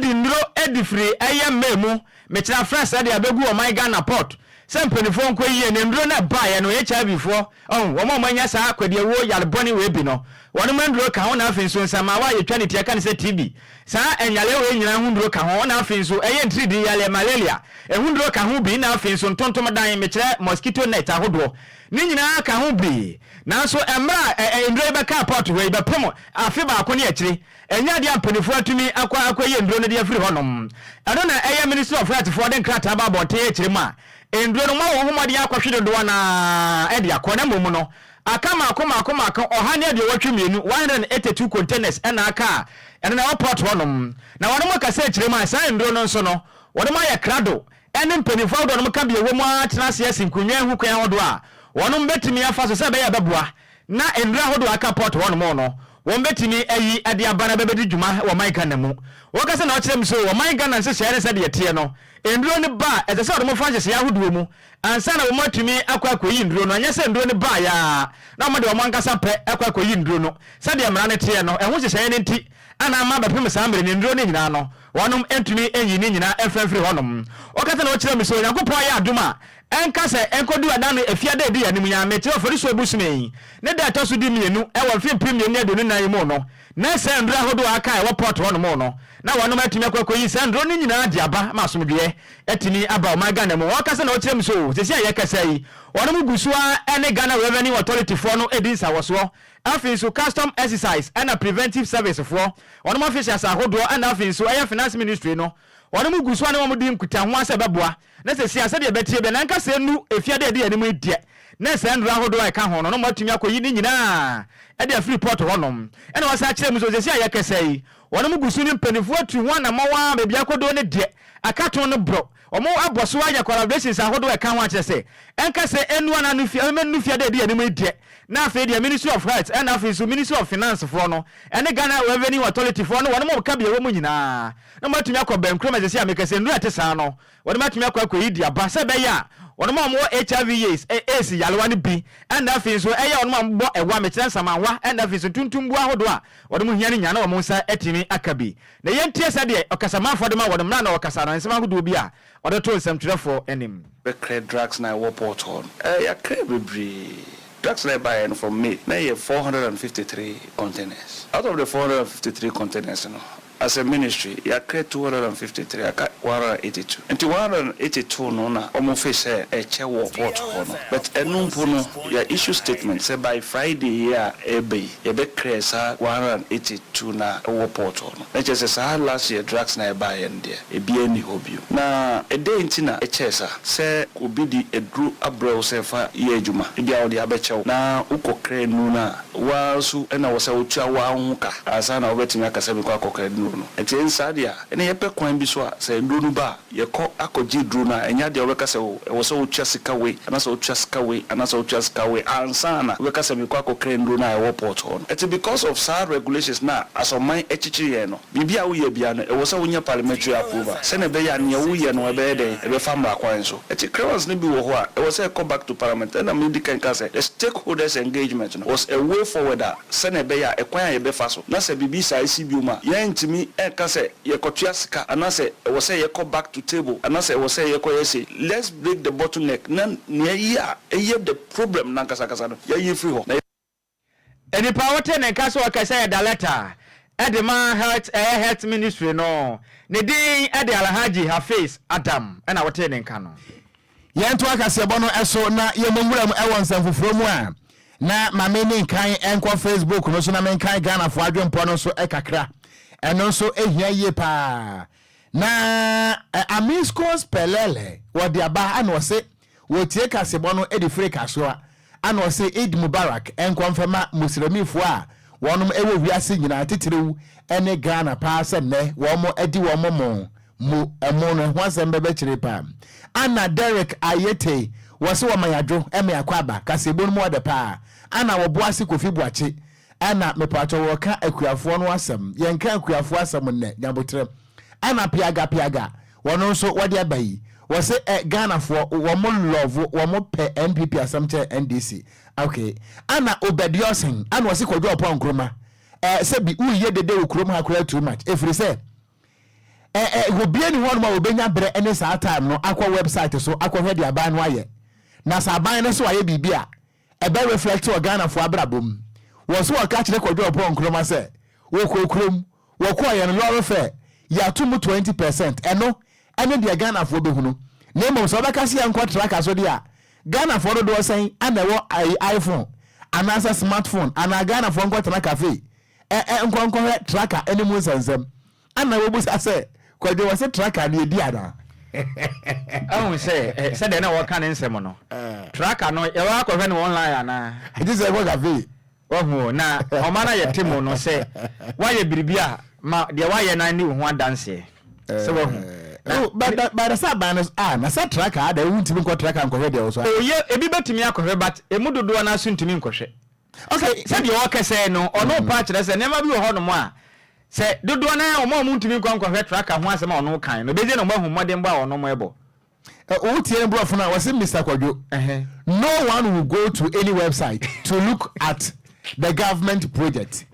de nnuro de firi ɛyɛ May mu mekyerɛ afrɛ sɛdeɛ bɛgu ɔman Ghana port sɛ mpanifoɔ nkɔ yie na nnuro no ɛbaeɛ no HIVfoɔ ɔho wɔn a wɔn anya saa kwadiawuo yare bɔne wei bi no wɔnom nnuro ka ho na afei nso nsammaawa a yɛtwa ne ti ɛka ne sɛ TB saa ɛnyareɛ wei nyinaa ho nnuro ka ho na afei nso ɛyɛ ntiridii yareɛ malaria ɛho nnuro ka ho bi na afei nso ntontom dan mekyerɛ mosquito net ahodoɔ Ne nyinaa ka ho biri, nanso mmerɛ a ɛ nnuro yi bɛkaa pɔɔto hɔ yi bɛpem afe baako ne akyire. Ɛnyɛ adeɛ a mpaninfoɔ atumi akɔ akɔyɛ nnuro no de afiri hɔ nom. Ɛno na ɛyɛ Ministry of Health foɔ de nkrataa ba abɔnten akyire mu a nnuro no moayɔ ho mmɔden akɔhwe dodoɔ no ara de akɔ na mmom no aka mmaako mmaako mmaako ɔha ne aduowɔtwe mmienu, one hundred and eighty two, containers na aka a ɛno na ɛwɔ pɔɔto hɔ nom. Na wɔnom kasa akyire mu a saa nnuro no nso no wɔnom ayɛ krado ɛne mpanyimfo ahodoɔ no ka bi a ɛwɔ mu ara tena ase asi nkonnwa ho kwan ahodoɔ a wɔn bɛtumi afa so sɛ ɛbɛyɛ a ɛbɛboa na nnuro ahodoɔ a aka port hɔ nom no wɔn bɛtumi ayi de aba na ɛbɛbɛdi dwuma wɔ ɔman Ghana mu. Wɔkasa na ɔkyerɛ mu sɛ ɔman Ghana nhyehyɛeɛ no sɛdeɛ ɛteɛ no, nnuro no ba a, ɛsɛ sɛ wɔn fa nhyehyɛeɛ ahodoɔ mu ansa na wɔn atumi akɔ akɔyi nnuro no, anyɛ sɛ nnuro no baeɛ ara na wɔn de wɔn ankasa pɛ kɔ akɔyi nnuro no sɛdeɛ mmara no teɛ no, ɛho nhyehyɛeɛ no nti na ama abɛpem saa mmerɛ no nnuro no nyinaa no Wɔnom ntumi nyi ne nyinaa mfa mfiri hɔnom. Ɔka sɛ, Na ɔkyerɛɛ me sɛ, Onyankopɔn ayɛ adom a ɛnka sɛ ɛnkɔduru ɛda no ɛfiada a ɛdi yɛn anim yi ara, mekyerɛ Oforisuo bosome yi ne da a ɛtɔ so di mmienu wɔ mfe mpem mmienu ne aduonu nnan yi mu no, na saa nnuro ahodoɔ a aka a ɛwɔ port hɔnom no, na wɔnom atumi akɔ akɔyi saa nnuro no nyinaa de aba ma asomdwoeɛ atumi aba ɔman Ghana mu. Ɔka sɛ, Na ɔkyerɛɛ me sɛ, Oo, seesei a yɛrekasa yi, wɔnom gu so ara ne Ghana Revenue Authority foɔ no redi nsawɔsoɔ, afei nso Custom Exercise ɛna Preventive Service foɔ, wɔnom officials ahodoɔ ɛna afei nso ɛyɛ finance ministry no wɔnom gu so a ne wɔn di nkutahoa sɛ ɛbɛboa na sesia sɛdeɛ ɛbɛteɛ bia na nkasa ɛnu efie ada ɛdi anim yi deɛ na saa nnuro ahodoɔ a ɛka ho no wɔnom atumi akɔ yi ne nyinaa ɛde afiri port hɔnom ɛna wɔasan akyerɛ mu nso sesia yɛkɛsa yi wɔnom gu so ne mpaninfoɔ atu ho anamɔn a baabi akɔduro no deɛ akato no borɔ Wɔabɔ so ayɛ collaborations ahodoɔ a ɛka ho akyerɛ sɛ ɛnka sɛ ɛnnu anaa nufi ɛmɛ nnu fiada edi yɛn anim yi deɛ na afei deɛ Ministry of Health ɛna afei nso Ministry of Finance foɔ no ɛne Ghana Revenue Authority foɔ ne wɔn a wɔka bea ɛwɔ mu nyinaa na wɔatumi akɔ bɛnkorɔ ma sɛsɛ a meka sɛ nnuro a ɛte saa no wɔde matumi akɔ akɔyi de aba sɛ ɛbɛyɛ a wɔn a wɔwɔ HIV yeas ɛ AIDS yarewa no bi ɛna afei nso ɛyɛ wɔn a wɔbɔ ɛwa mekyerɛ nsamanwa ɛna afei nso ntuntumbuo ahodoɔ a wɔn hia no nyinaa na wɔn nsa atumi aka bi Na yɛntie sɛdeɛ ɔkasamanfoɔ de ma wɔ ne mmara na ɔkasa anaa nsɛm ahodoɔ bi a ɔde to nsɛmtwerɛfoɔ anim. Bɛkrɛ drugs no a ɛwɔ port hɔ no. Ɛɛ, yɛakrɛ bebree. Drugs no a ɛbaeɛ no from May na ɛyɛ four hundred and fifty three containers. Out of the four hundred and fifty three containers no, as a ministry, yɛakrɛ two hundred and fifty three, aka one hundred and eighty two. Nti one hundred and eighty two no na wɔfiri sɛ ɛkyɛ wɔ port hɔ no. But ɛno mpo no. Yɛ issue statement sɛ by Friday yi a ɛreba yi yɛbɛ clear saa one hundred and eighty two no a ɛwɔ port hɔ no. Na kyerɛ sɛ saa last year drugs no a ɛbaeɛ no deɛ ɛbiara nni hɔ bio. Na ɛdɛn nti na ɛkyɛɛ saa? Sɛ obi de aduro abrɛ wo sɛ fa yɛ adwuma, ebia ɔde abɛkyɛ wo na wo kɔ kra nnuro no a, wo ara nso na ɛwɔ sɛ wo tua wo ara wo ho ka ansa na wobɛtumi aka sɛ me kɔ akɔ kra nnuro no. Ɛnti ɛnsaa deɛ a, ɛnna yɛpɛ kwan bi so a sɛ nnuro no ba a, Yɛkɔ akɔgye duro no a, ɛnyɛ adeɛ a wobɛka sɛ oh, ɛwɔ sɛ wotua sika wei anaasɛ wotua sika wei anaasɛ wotua sika wei ansa na wobɛka sɛ mekɔ akɔkra nnuro no a ɛwɔ port hɔ no. Ɛte because of saa regulations no a asɔman akyikyiri yɛn no, biribi a woyɛ biara no, ɛwɔ sɛ wonya parliamentary approval sɛdeɛ ɛbɛyɛ a nea woyɛ no ɛbɛyɛ dɛn, ɛbɛfa mmara kwan so. Ɛte crowns no bi wɔ hɔ a, ɛwɔ sɛ ɛkɔ back to parliament. Ɛna medi kan kaa sɛ the stakeholders engagement no was a way forward a, sɛnea ɛbɛyɛ a ɛkwan a yɛbɛfa so na sɛ biribi saa si bio a, yɛrentumi nka sɛ yɛkɔtua sika anaasɛ ɛwɔ sɛ yɛkɔ back to table anaasɛ ɛwɔ sɛ yɛkɔyɛ sei. Let's break the bottle neck na nea ɛyɛ a ɛyɛ the problem no ankasa ankasa no, yɛyi firi hɔ. Nnipa a wɔte ne nka sɛ ɔkasa yi da lɛta de ma health ɛyɛ health ministry no, ne din de Alhaji Hafiz Adam na wɔte ne nka no. Yɛntoa kaseɛbɔ no so na yɛmmɔ nwuram wɔ nsɛm foforɔ mu a, na ma menni nkan nkɔ Facebook no so na menkan Ghanafoɔ adwempɔ no so kakra. Ɛno nso hia yie pa ara. Na Amiscos Pelele wɔ Diaba a na ɔse wɔtie kaseɛbɔ no de firi Kasoa. Ana ɔse Eid Mubarak nkɔ mfɛma Musremifoɔ a wɔnom ɛwɔ wiase nyinaa titiriw ɛne Ghana paa sɛ nnɛ wɔmo ɛdi wɔmo mo mo ɛmo no ɛho asɛm bɛbɛ kyeree paa Ana Derrick Ayete wɔse wɔma yadwo ɛma yakɔ aba kaseɛbɔ no mu ɔdɛ paa Ana wɔbo ase Kofi Boakye Ana mepaatɔ wɔka Akuafoɔ no asɛm yɛnka Akuafoɔ asɛm nnɛ Nyaboterɛ Ɛna piaga piaga wɔno nso wɔde aba yi wɔse ɛ Ghana foɔ wɔn love wɔn pɛ NPP asɛm kyɛn NDC ok ɛna Obɛdiɔsen ɛna ɔse Kwadwo Ɔpɔn Nkrumah ɛ sɛbi woyɛ dede wo kurom ha koraa too much efirisɛ ɛ ɛ obia ni hɔnom a obɛnya berɛ ɛne saa time no akɔ website so akɔhwɛ deɛ aban no ayɛ na sɛ aban no nso ayɛ biribi a Ɛbɛ reflect wɔ Ghanafoɔ abrabɔ mu. Wɔ so wɔka kyerɛ Kwadwo Ɔpɔn Nkrumah sɛ wɔkɔɔ kurom, wɔkɔeɛ no lorry fare yɛato mu 20 per cent, ɛno ɛne deɛ Ghanafoɔ bɛhunu. Na mmom sɛ wobɛka sɛ yɛnkɔ traka so deɛ a, Ghanafoɔ dodoɔ sɛn na ɛwɔ iPhone anaasɛ smartphone anaa Ghanafoɔ nkɔtena cafe ɛ ɛ nkɔ nkɔhwɛ traka no mu nsɛnsɛm. Ana wobisa sɛ, Kwadwo, wɔse traka no yɛdi anaa? Ahu sɛ, sɛdeɛ na wɔka ne nsɛm no, traka no yɛbɛ akɔhwɛ no online anaa? Gye sɛ yɛkɔ cafe. Wahu o, na ɔma no ayɛ te mo no sɛ woayɛ biribi a, ma deɛ woayɛ no ara nni wo ho adanseɛ. Sɛ wahu? Na. By the sɛ aban no so, ah, na sɛ traka a, dɛn, wontumi nkɔ traka nkɔhwɛ deɛ wɔ so a? Oh, yɛ, ebi bɛtumi akɔhwɛ but ɛmu dodoɔ no ara so ntumi nkɔhwɛ. Ɔse sɛdeɛ ɔɔkɛsɛɛ no ɔno paa kyerɛ sɛ nneɛma bi wɔ hɔ nom a sɛ dodoɔ no ara wɔn a wɔn ntumi nkɔ nkɔhwɛ tracker ho asɛm a ɔno kan no bɛgye na wɔn ahu mmɔdenbɔ a ɔnom ɛbɔ. Wo tie ne brɔfo no a wɔse Mister Kwadwo no one will go to any website to look at the government project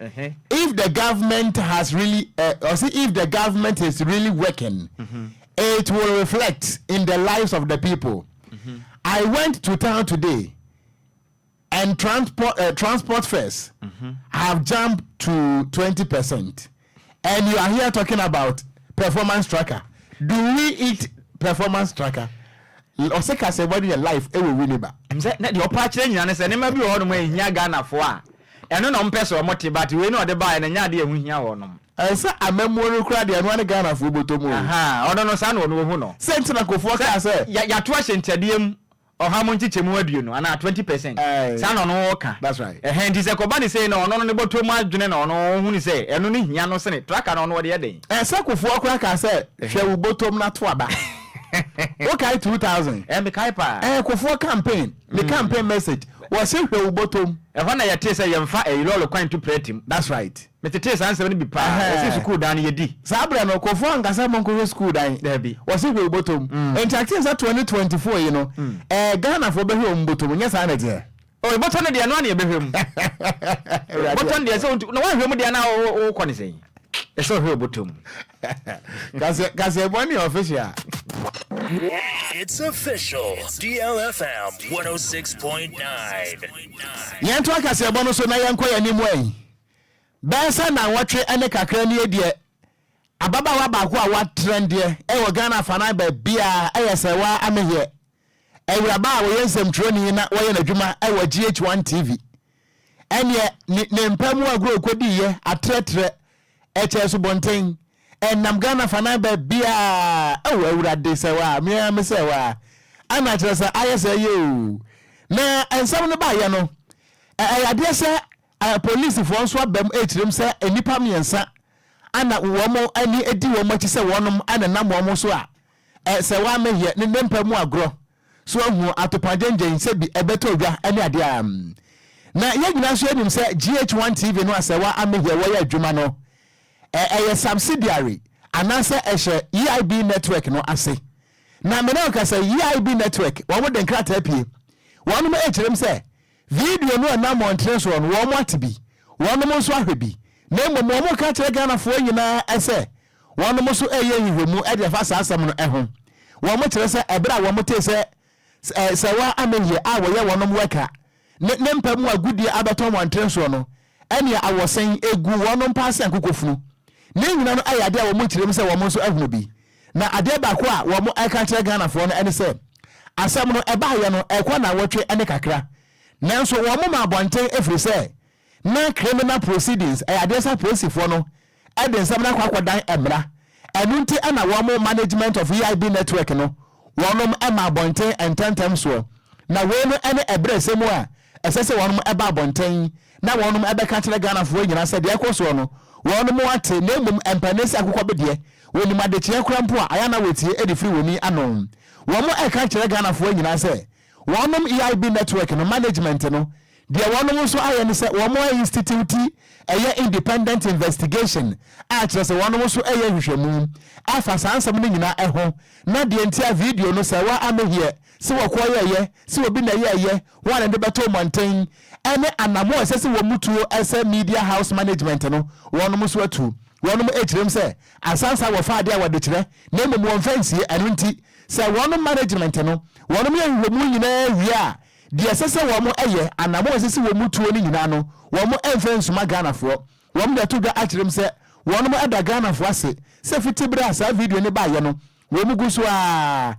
if the government has really eh, ɔse if the government is really working it will reflect in the lives of the people I went to town today And transport, uh, transport fares mm-hmm. have jumped to 20%. And you are here talking about performance tracker. Do we eat performance tracker? ɔsɛ ka sɛ wɔde yɛ life ɛwɔ wi ne ba. sɛ na deɛ ɔpa akyerɛ nyina ne sɛ nneɛma bi wɔ hɔnom ɛhia ghanafoɔ a ɛno na ɔmpɛ sɛ ɔmo te ba te wei na ɔde baeɛ na ɛnyɛ adeɛ ɛho hia wɔnom. ɛsɛ amamuo no kura deɛ ɛnoa ne ghanafoɔ bɔtɔ mu. ɔno no saa na ɔno ohu no. sɛ ntina kofoɔ kaa sɛ. yɛato ahyɛ ntɛdeɛ mu Ɔha mu nkyekyɛmu aduonu anaa twenty percent saa na ɔno ɔka ɛhɛn nti sɛ ɛkɔba ne sei no ɔno no ne bɔtɔ mu adwene na ɔno ɔhunu sɛ ɛno no hia no sene traka no ɔno ɔde yɛ dɛn. Ɛsɛ kofoɔ koraa kaa sɛ hwɛ wo bɔtɔ mu na to aba wo kae two thousand Ɛɛ me kae paa. Ɛɛ kofoɔ campaign ne campaign message wɔse hwɛ wo bɔtɔ mu. Ɛhɔ na yɛtee sɛ yɛnfa ɛyi lɔɔre kwan ntu prɛte mu. That's right. Metetee saa nsɛm no bi paa. Wɔse sukuu dan no, yɛdi. Saa berɛ no, Kofoɔ anka sɛ monkɔhwɛ sukuu dan. Dabi. Wɔse hwɛ wo bɔtɔm. Enti I think sɛ twenty twenty foɔ yi no, ɛɛ Ghanafoɔ bɛhwɛ wɔn bɔtɔm, nyɛ saa na ɛteɛ? Oh, bɔtɔ no deɛ, ɛno ara na yɛbɛhwɛ mu. Bɔtɔ no deɛ, sɛ wontu, na woanhwɛ mu deɛ a na wokɔ ne sɛn? Ɛsɛ ɔhwɛ wo bɔtɔm. Kaseɛ bɔ ne official. It's official, DLFM 106.9. Yɛntoa kaseɛbɔ no so na yɛnkɔ yɛn anim ɛ. Bɛyɛ sɛ nnanwɔtwe ne kakra nie deɛ ababaawa baako a watrɛn deɛ wɔ Ghana afanan baabiara ɛyɛ sɛ waa Ameheɛ Awuraba a ɔyɛ nsɛmtwerɛni na wayɛ n'adwuma wɔ GH1 TV. Ɛnneɛ ne ne mpa mu agorɔ ɔkɔdiiɛ atrɛtrɛ ɛkyɛɛ subɔnten ɛnam Ghana afanan baabiara oh Awurade sɛ waa me ara me sɛ waa ana kyerɛ sɛ ayɛ sɛ ɛyɛ oo. Na nsɛm no baeɛ no ɛyɛ adeɛ sɛ Apolisifoɔ nso aba mu rekyerɛ mu sɛ nnipa mmiɛnsa a na wɔn ani di wɔn akyi sɛ wɔnom na ɛnam wɔn so a sɛ wɔammɛyɛ ne nnompa mu agorɔ so ahunu atopagyengyen sɛ bi bɛtɔ dwa ne adeɛ a na yɛn nyinaa nso yɛnim sɛ GH1 TV no a sɛ wɔammɛyɛ wɔyɛ adwuma no ɛyɛ subsidiary anaasɛ ɛhyɛ EIB network no ase na mene ɔka sɛ EIB network wɔn de nkrataa pie wɔnom rekyerɛ mu sɛ Video no ɛnam wɔn nkyerɛ soɔ no wɔn ate bi, wɔn nom nso ahwɛ bi, na mmom wɔn reka akyerɛ Ghana foɔ nyinaa ɛsɛ wɔn nom nso ɛreyɛ nhwehwɛmu de afa saa asɛm no ɛho. Wɔn kyerɛ sɛ ɛberɛ a wɔn tee sɛ Sir Wa Amehia a wɔyɛ wɔn nom wɛka ne ne mpa mu agodie abɛtɔn wɔn nkyerɛ soɔ no ɛne awɔsɛn gu wɔn mpaa sɛ nkokofunu. Ne nyina no ɛyɛ adeɛ a wɔn nkyerɛm sɛ wɔn nso ahunu bi. Na adeɛ baako a wɔn ɛka kyerɛ Ghanafoɔ no ɛne sɛ, asɛm no ɛbaayɛ no ɛkɔ nnawɔtwe ne kakra, nanso wɔn ma abɔnten ɛfiri sɛ na criminal proceedings ɛyɛ adeɛ sɛ apolisifoɔ no de nsɛm no akɔ akɔdan mmara. Ɛno nti na wɔn Management of EIB Network no wɔnom ma abɔnten ntɛmntɛm soɔ. Na wei no ne ɛberɛsɛm a ɛsɛ sɛ wɔnom ba abɔnten na wɔnom bɛka kyerɛ Ghanafoɔ nyinaa sɛ deɛ ɛkɔ soɔ no wɔnom ate na mmom mpanin sɛ akokɔ bedeɛ wɔnim adekyeɛ koraa mpo a ayɛ a na wɔtie de firi wɔn ani ano. Wɔn ɛka kyerɛ Ghanafoɔ nyinaa sɛ Wɔnom EIB network no management no deɛ wɔnom nso ayɛ ne sɛ wɔnom a institute ɛyɛ independent investigation a kyerɛ sɛ wɔnom nso ɛyɛ nhwehwɛmu afa saa nsɛm no nyinaa ɛho na deɛ nti a video no sɛ wa ameheɛ se wɔ kɔ yɛ yɛ se obi na ɛyɛ yɛ wɔn na de bɛtoo mɔnten ɛne anamo ɛsɛ se wɔn mu tuo ɛsɛ media house management no wɔnom nso atu wɔnom ɛkyirem sɛ Asansa wɔfa ade a wɔde kyerɛ na mmom wɔmfa nsie. Ɛno nti, sɛ wɔn management no wɔnom yɛ nhwehwɛmu nyinaa wie a, deɛ ɛsɛ sɛ wɔn yɛ, anamɔn a ɛsɛ sɛ wɔn tuo no nyinaa no, wɔn mfa nsuma Ghanafoɔ. Wɔn de ato dwa akyerɛ mu sɛ wɔnom da Ghanafoɔ ase sɛ fiti berɛ a saa video no baeɛ no, Wɔn gu so ara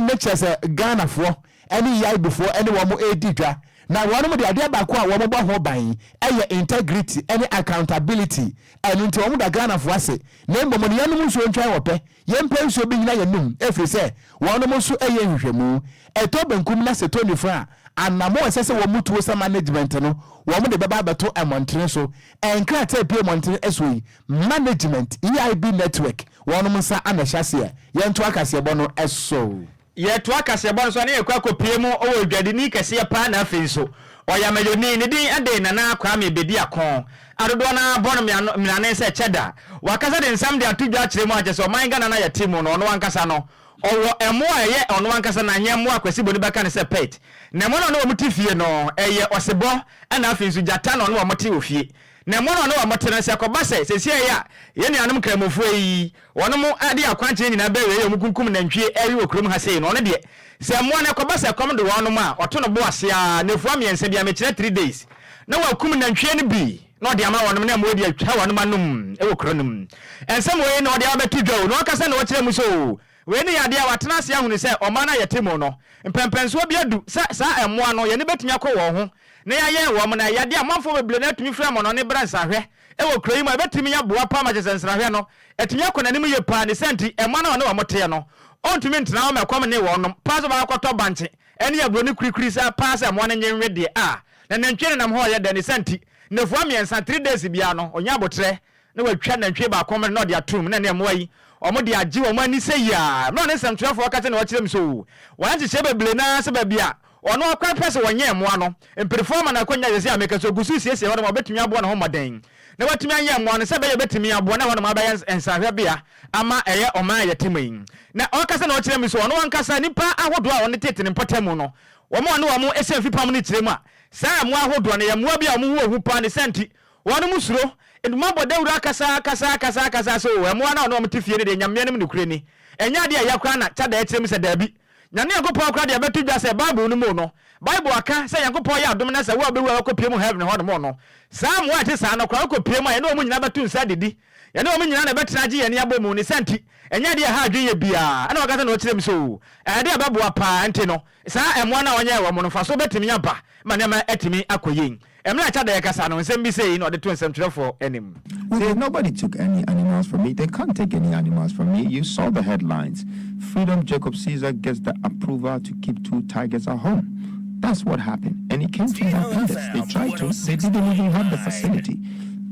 ne kyerɛ sɛ Ghanafoɔ ne Yaibufoɔ ne wɔn redi dwa. Na wɔn deɛ adeɛ baako a wɔbɔ ho ban yɛ integrity ne accountability. Ɛno nti wɔda Ghanafoɔ ase. Na mmom no yɛnnom nsuo ntwɛn wɔ pɛ. Yɛmpɛ nsuo bi nyina yɛnum ɛfiri sɛ wɔnom nso yɛ nhwehwɛmu. Ɛtɔ benkum na sɛ ɛtɔ nifa a, anamo a ɛsɛ sɛ wɔn tuo sɛ management no wɔn de bɛba abɛto mmɔntene so. Nkrataa a ɛpue mmɔntene soɔ yi Management, EIB Network, wɔnom nsa na ɛhyɛ aseɛ. Yɛntoa kaseɛbɔ no so. Yɛtoa kaseɛbɔ no so a na yɛkɔ akɔpue mu wɔ dwadini kɛseɛ paa na afei nso ɔyameyoni, ne din de Nana Kwame Bediako, a dodoɔ no ara bɔ no mmirane sɛ Cheddar. Wakasa de nsɛm de ato dwa akyerɛ mu a kyerɛ sɛ ɔman Ghana no a yɛte mu no ɔno ankasa no ɔwɔ mmoa a ɛyɛ ɔno ankasa na nyɛ mmoa a Kwasi Boni bɛka no sɛ pet. Na mmoa no a ɔne wɔn te fie no yɛ ɔsebɔ na afei nso gyata na ɔne wɔn te wɔ fie. Na mo a ɔno wɔ mo te no, sɛ ɛkɔba sɛ seesei a yɛn nuanom Nkramofoɔ yi, wɔnom de yɛn akwankyerɛ nyinaa bɛwe yɛn, wɔkunkum nantwie ɛwe wɔ kurom ha sei no, ɔno deɛ, sɛ mmoa no ɛkɔba sɛ ɛkɔm de wɔnom a, ɔto no bo ase ara, nnafua mmiɛnsa biara, mekyerɛ three days, na wakum nantwie no bi, na ɔde ama wɔnom, na mmoa de atwa wɔnom anom wɔ kuro no mu. Nsɛm wei na ɔde aba abɛto dwa o, na ɔkasa na ɔkyerɛ mo sɛ o, Wei ne yadeɛ a wɔatena ase ahunu sɛ ɔman a yɛte mu no, mpɛnpɛnsoɔ bi adu sɛ saa mmoa no, yɛn ani bɛtumi akɔ wɔn ho na yɛayɛn wɔn, na yadeɛ a amanfoɔ bebree no ara tumi frɛ mono no brɛ nsrahwɛ wɔ kuro yi mu a ɛbɛtumi aboa paa ma kyerɛ sɛ nsrahwɛ no atumi akɔ n'anim yie paa, ne saa nti mmoa no a wɔne wɔn teɛ no wɔntumi ntena hɔ ma ɛkɔm nnee wɔn nom paa sɛ wɔakɔtɔ bankye ne aburoni kurikuri saa paa sɛ mmoa no nnye nnwe deɛ a na nantwie no nam hɔ reyɛ dɛ, ne saa nti nnafua mmiɛnsa, three days, biara no ɔnya aboterɛ na watwa nantwie baako amena na ɔde atom, na ɛnnɛ mmoa yi, wɔde agye wɔn ani sɛ yiaa. Mmerɛ a ne nsɛmtwerɛfoɔ aka sɛdeɛ ɔkyerɛɛ me so, wɔayɛ nhyehyɛɛ bebree no ara sɛ baabi a ɔno akwan pɛ sɛ wɔnyɛn mmoa no, mperefoɔ ama no akwannya sɛsei a meka so, ɔgu so resiesie hɔnom a wɔbɛtumi aboa ne ho mmɔden na watumi anyɛn mmoa no sɛ ɛbɛyɛ ɔbɛtumi aboa na hɔnom abɛyɛ nsrahwɛbea ama ɛyɛ ɔman a yɛte mu yi. Na ɔka sɛdeɛ ɔkyerɛɛ me so, ɔno ankasa nnipa ahodoɔ a wɔn tete ne mpɔtamu no, wɔn a ɔne wɔn hyɛn fipam no kyerɛɛ mu a, saa mmoa ahodoɔ no yɛ mmoa bi a wɔn ho wɔ hu pa ne saa nti Wɔnom suro, nti moabɔ dawuro akasa, akasa, akasa, akasa sɛ oo ɛmoa no a ɔne wɔn te fie no deɛ Nyameɛ no mu nokorɛ ni. Ɛnyɛ adeɛ a ɛyɛ koraa na Chadae team sɛ daabi. Nyame Nyankopɔn koraa deɛ bɛto dwa sɛ Bible no mu no, Bible aka sɛ Nyankopɔn yɛ adom na sɛ wo a wobɛwu a wakɔ pue mu Heaven hɔ nom no, saa amoa a ɛte saa no koraa wokɔ pue mu a yɛne wɔn nyinaa bɛto nsa adidi. Yɛne wɔn nyinaa na ɛbɛtena agye yɛn ani abɔ mu. Ne saa nti, ɛnyɛ adeɛ a ɛha adwenyɛ biara. Ɛna waka sɛ na ɔkyerɛ mu sɛ oo ɛyɛ adeɛ a ɛbɛboa paa, ɛnti no, Saa mmoa no a ɔnyɛɛ wɔn no mfaso betumi aba ma nneɛma atumi akɔ yie. Mmere a ɛkyɛ da yɛkasa no, nsɛm bi sei na ɔde too nsɛmtwerɛfoɔ anim. We did nobody took any animals from me they can't take any animals from me you saw the headlines freedom Jacob Caesar gets the approval to keep two tigers at home that's what happened and it came to independence they tried to they didn't even have the facility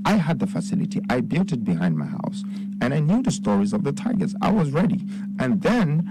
I had the facility I built it behind my house and I knew the stories of the tigers I was ready and then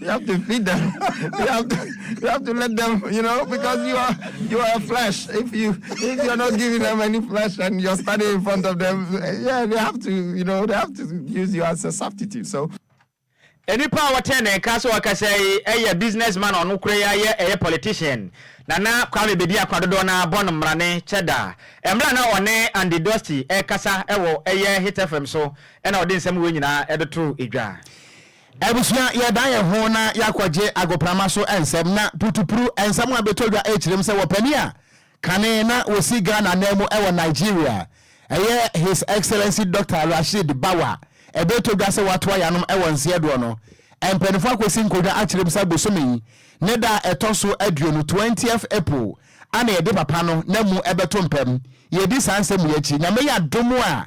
you have to feed them. You have to, you have to let them, you know, because you are you are flesh. If you if you're not giving them any flesh and you're standing in front of them, yeah, they have to, you know, they have to use you as a substitute. So. nipa a wɔtɛn ne nka sɛ ɔkasa yi yɛ business man ɔno kura yi ayɛ ɛyɛ politician nana kwame bedi akwa dodoɔ na bɔ no mmara ne kyɛ da mmerɛ na ɔne andy dusty ɛkasa ɛwɔ ɛyɛ hit fm so Ɛna ɔde nsɛm wei nyinaa de too dwa. Abusua, yɛdan yɛn ho na yɛakɔgye agoprama so nsɛm na putupru nsɛm a ɛbɛtɔ dwa kyerɛm sɛ wɔpanin a kane na wɔsi Ghana nan mu wɔ Nigeria, ɛyɛ His Excellency Dɔkta Rasheed Bawa, ɛbɛtɔ dwa sɛ wɔatoa yɛn anom wɔ nseɛdoɔ no mpaninfoɔ akɔsi nkɔdwa akyerɛm sɛ bosome yi ne da a ɛtɔ so aduonu, twentieth April, ana yɛde papa no na mu bɛto mpam. Yɛdi saa nsɛm yi akyi, Nyame yɛ adom a,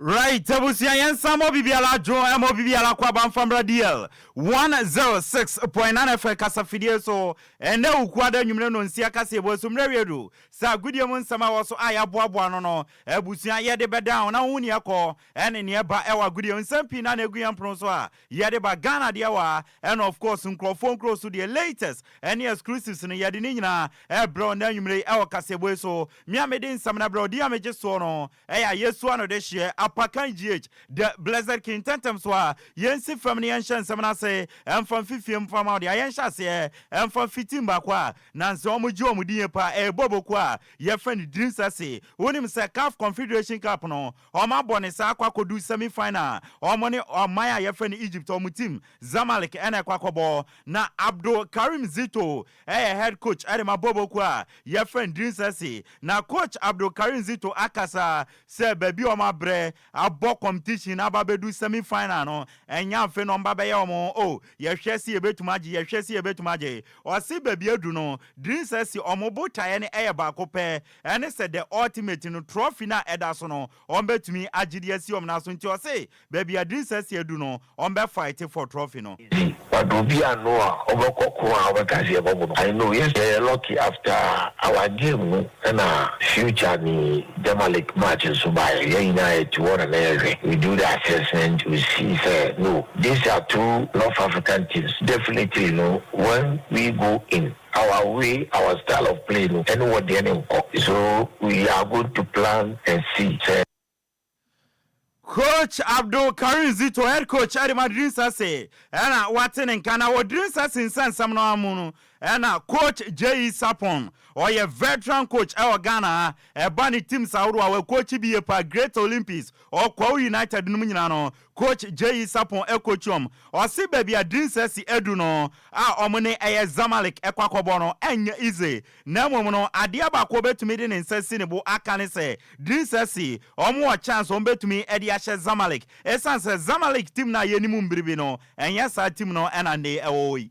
Right abusua yɛn nsa ma obi biara adwo ɛma obi biara kɔ aba nfa mbra DL one zero six point nine FM kasa fidie so ɛnɛ Wukuada anwumire no nsia kaseɛbɔ so mmerɛ wie du sɛ agodie mu nsɛm a ɛwɔ so a yaboaboa ano no abusua yɛde bɛ down na wohu neɛ ɛkɔ ɛne neɛ ɛba ɛwɔ agodie nsɛm pii na na egu yɛn pono so a yɛde ba Ghana deɛ wa ɛna of course nkurɔfoɔ nkuro so deɛ latest ɛne exclusives no yɛde ne nyinaa ɛbrɛ ɔnɛ anwumire yi ɛwɔ kaseɛbɔ yi so mea mede nsɛm no brɛ ɔdi a megye soɔ no Ɛyɛ a yesua no de hyɛ apa kan GH, the Blessed King ntɛmntɛm so a, yensi fam na yɛnhyɛ nsɛm no ase mfa mfifie mfa mma wɔde ayɛ nhyɛaseɛ mfa mfiti mmaako a na nsɛ wɔgye wɔn din yɛ paa ɛyɛ bɔɔbɔ kuo a yɛfrɛ no Dreams FC wonim sɛ caf Confederation Cup no wɔn abɔ ne saa akɔ akɔdu semi final wɔn ne ɔman a yɛfrɛ no Egypt wɔn team Zamalek ɛna ɛkɔ akɔbɔ na Abdul Karim Zito Ɛyɛ head coach de ma Bobo kuo a yɛfrɛ no Dreams SC. Na coach Abdul Karim Zito akasa sɛ baabi a wɔabrɛ abɔ competition no aba abɛdu semi final no, ɛnyɛ afei na wɔba abɛyɛ wɔn ho oh, yɛhwɛ se yɛbɛtumi agye, yɛhwɛ se yɛbɛtumi agye. Ɔse baabi adu no, Dreams SC wɔn botaeɛ no yɛ baako pɛ, ɛne sɛ the ultimate no, trophy no a ɛda so no, wɔn bɛtumi agye de asi wɔn nan so, nti ɔse baabi a Drin Sɛseɛ du no wɔn bɛ fight for trophy no. Nti wado obi ano a ɔbɛkɔ ko a ɔbɛka sɛ yɛbɔ mo no I know yes yɛyɛ lucky after our game no ɛna future ne Jamalik match nso baeɛ yɛn nyinaa yɛte hɔ na na yɛhwɛ we do the assessment we see sɛ no these are two North African teams definitely no when we go in Our way our style of play no ɛne wɔ deɛ no nkɔ so we are going to plan and see sɛ. Coach Abdul Karim Zito, head coach ɛde ma Diri Nsase ɛna wate ne nka na wɔ Diri Nsase nsɛnsɛm no ara mu no ɛna coach JE Sarpong ɔyɛ veteran coach ɛwɔ Ghana ha ɛba ne teams ahorow a wɔ coachi bi yie paa Great Olympics, Ɔkwawu United nom nyinaa no Coach Jeyi Sarpong Ekochiom, ɔse baabi a Dreams FC adu no a wɔn ne ɛyɛ Zamalek kɔ akɔbɔ no ɛnyɛ easy na mmom no adeɛ baako ɔbɛtumi de ne nsa asi ne bo aka ne sɛ Dreams FC wɔn wɔ chance wɔn bɛtumi de ahyɛ Zamalek ɛsiane sɛ Zamalek team no a yɛnim mbiribi no ɛnyɛ saa team no na nne ɛwɔ hɔ yi.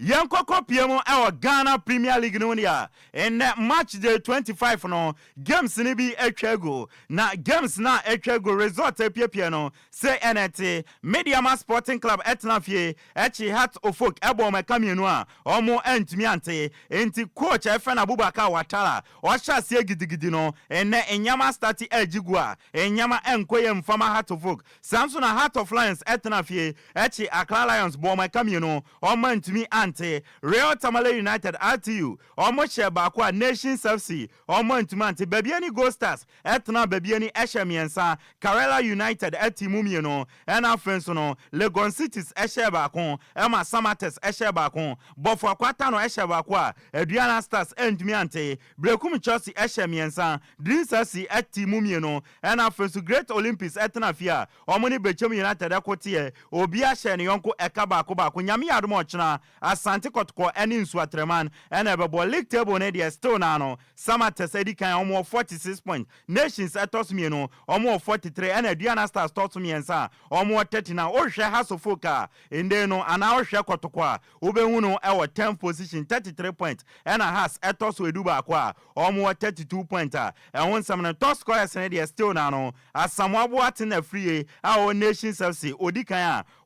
Yɛnkɔ kɔpie mu wɔ Ghana Premier League no mu deɛ a, nnɛ March day twenty five no, games no bi atwa agu. Na games no a atwa agu, result apiapia no, sei ɛna ɛte, Medeama Sporting Club tena fie kye Hearts Ofok bɔ wɔn ɛka mmienu a wɔn antumi ante. Enti coach Efen Abubakar Watara, ɔhyɛ aseɛ gidigidi no, nnɛ nneɛma astarte agye gu a, nneɛma nkɔ yie mfa ma Hearts Ofok. Saa nso na Heart of Lions tena fie kye Accra Lions bɔ wɔn ɛka mmienu. wɔn antumi ante, Real Tamale United, RTU, wɔn hyɛɛ baako a Nations FC, wɔn antumi ante, Babiani Gold Stars tenaa Babiani hyɛɛ mmiɛnsa, Karela United tee mu mmienu, ɛna afei nso no, Legon Cities hyɛɛ baako, ɛma Samatex hyɛɛ baako, Bɔfoa Kwatano hyɛɛ baako a Aduana Stars antumi ante, Berekum Chelsea hyɛɛ mmiɛnsa, Dreams FC tee mu mmienu, ɛna afei nso Great Olympics tenaa fie a Wɔn ne Bɛkyɛm United ɛko teɛ, obiara hyɛɛ ne yɔnko ɛka baako baako. Nyame yɛ adom a ɔkyena, Asante Kɔtɔkɔ ɛne Nsu Atraman ɛna ɛbɛbɔ. League table no deɛ still naa no, Samatex ɛdi kan, wɔn wɔ 46 points. Nations ɛtɔ so mmienu, wɔn wɔ 43 ɛna Aduana Stars tɔ so mmiɛnsa, wɔn wɔ 39. Wohwɛ Hearts of Oak a, ndɛn no, anaa wohwɛ Kɔtɔkɔ a, wobɛhu no ɛwɔ 10th position, 33 points, ɛna Hearts ɛtɔ so ɛdu baako a, wɔn wɔ 32 points a, ɛho nsɛm no, top scorers no deɛ still naa no, Asamoah Boateng Afriyie a ɔwɔ Nations FC ɔdi kan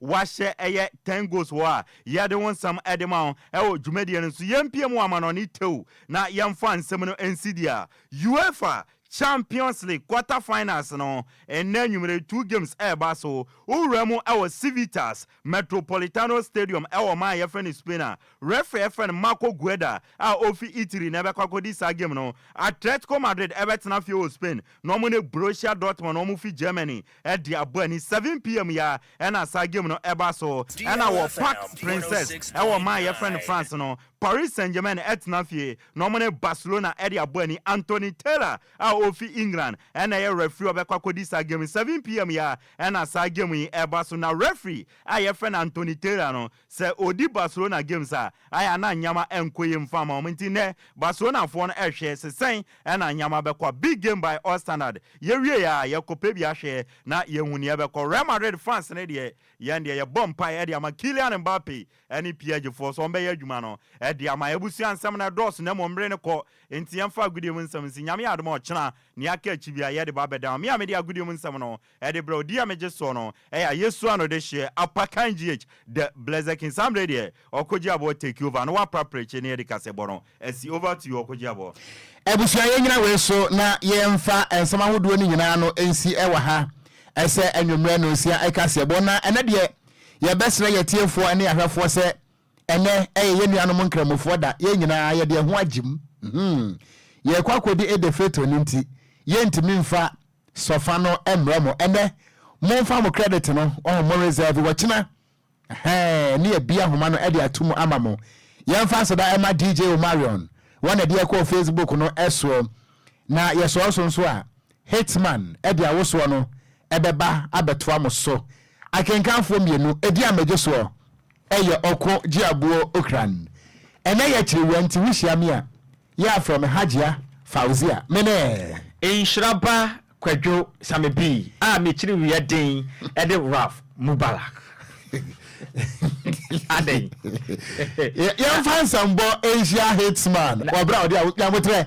a wahyɛ ɛyɛ ten goals wɔ a yɛde wo nsɛm de ma wo wɔ dwumadie no so yɛmpie mu amanɔne tew na yɛmfa nsɛm no nsi dua UEFA Champions League quarter finals no nnɛ anwummere two games ɛreba so wowura mu wɔ Civitas Metropolitano Stadium wɔ ɔman a wɔfrɛ no Spain a referee a wɔfrɛ no Marco Guarda a ofi Italy na ɛbɛkɔ akodi saa game no. Atletico Madrid bɛtena fie wɔ Spain na wɔne Borussia Dortmund a wɔfi Germany de abɔ ani. Seven pm yi ara na saa game no ba so. Ɛnna wɔ Parc Princes wɔ ɔman a wɔfrɛ no France no, Paris Saint-Germain tena fie na wɔne Barcelona de abɔ ani. Anthony Taylor a ofi England na ɛyɛ referee a ɔbɛkɔ akodi saa game no. Seven pm yi ara Ɛna saa game yi ɛba so na referee a yɛfrɛ no Anthony Taylor no sɛ ɔdi Barcelona games a ayɛ a na nneɛma nkɔ yie mfa ma wɔn nti nnɛ Barcelona foɔ no ɛhwɛ se sɛn ɛna nneɛma bɛkɔ a big game by all standard yɛwie yɛ a yɛkɔ pɛ bi ahwɛ na yɛhu nea ɛbɛkɔ Real Madrid fans no deɛ yɛn deɛ yɛbɔ mpae de ama Kylian Mbappe ɛne PSG foɔ sɛ wɔn bɛyɛ adwuma no de ama abusua nsɛm no ɛdɔɔso na mmom mmere no kɔ Enti yɛmfa agodie mu nsɛm nsi. Nyame adom a ɔkyena nea aka akyi biara yɛde ba bɛda hɔ. Me a mede agodie mu nsɛm no de brɛ wo, din a megye soɔ no yɛ Ayesua no dehyeɛ, Apakan GH, The Blessed King. Saa mmerɛ yi deɛ Ɔkogye Aboɔ take over na wapra prɛkye na yɛde kasɛbɔ no asi. Over to you Ɔkogye Aboɔ. Abusua yɛnyina wei so na yɛmfa nsɛm ahodoɔ no nyinaa no nsi wɔ ha sɛ anwummerɛ nnɔnsia kasɛbɔ. Na ɛnɛ deɛ yɛbɛsrɛ yɛatiefoɔ ne ahwɛfoɔ sɛ Ɛnnɛ, ɛyɛ yɛn nuanom Nkramofoɔ da. Yɛn nyinaa, yɛde yɛn ho agyem. Hum! Yɛrekɔ akɔdi Eid al-Fitr no nti, yɛrentumi mfa sɔfa no mmrɛ mo. Ɛnnɛ, momfa mo credit no, ɔho, mo reserve wɔ kyena. Ɛhɛɛ, ne yɛabie ahoma no de ato mu ama mo. Yɛmfa aseda mma DJ Omarion, wɔn na ɛde yɛkɔɔ Facebook no soɔ, na yɛsɔɔ so nso a, Hitman de awosoɔ no bɛba abɛtoa mo so. Akenkanfoɔ mmienu di amagye soɔ yɛ ɔko gye aboɔ okuran. Ɛnɛ yɛ kyerewua nti wohyia me a, yɛ a frɛ me Hajia Fauzia. Mene. Nhyira ba Kwadwo Samebii a me kyerewua din de Ralph Mubarak. Adɛn? Yɛmfa nsɛmbɔ nhyia Hitman wɔ berɛ a ɔde a, nyaboterɛ.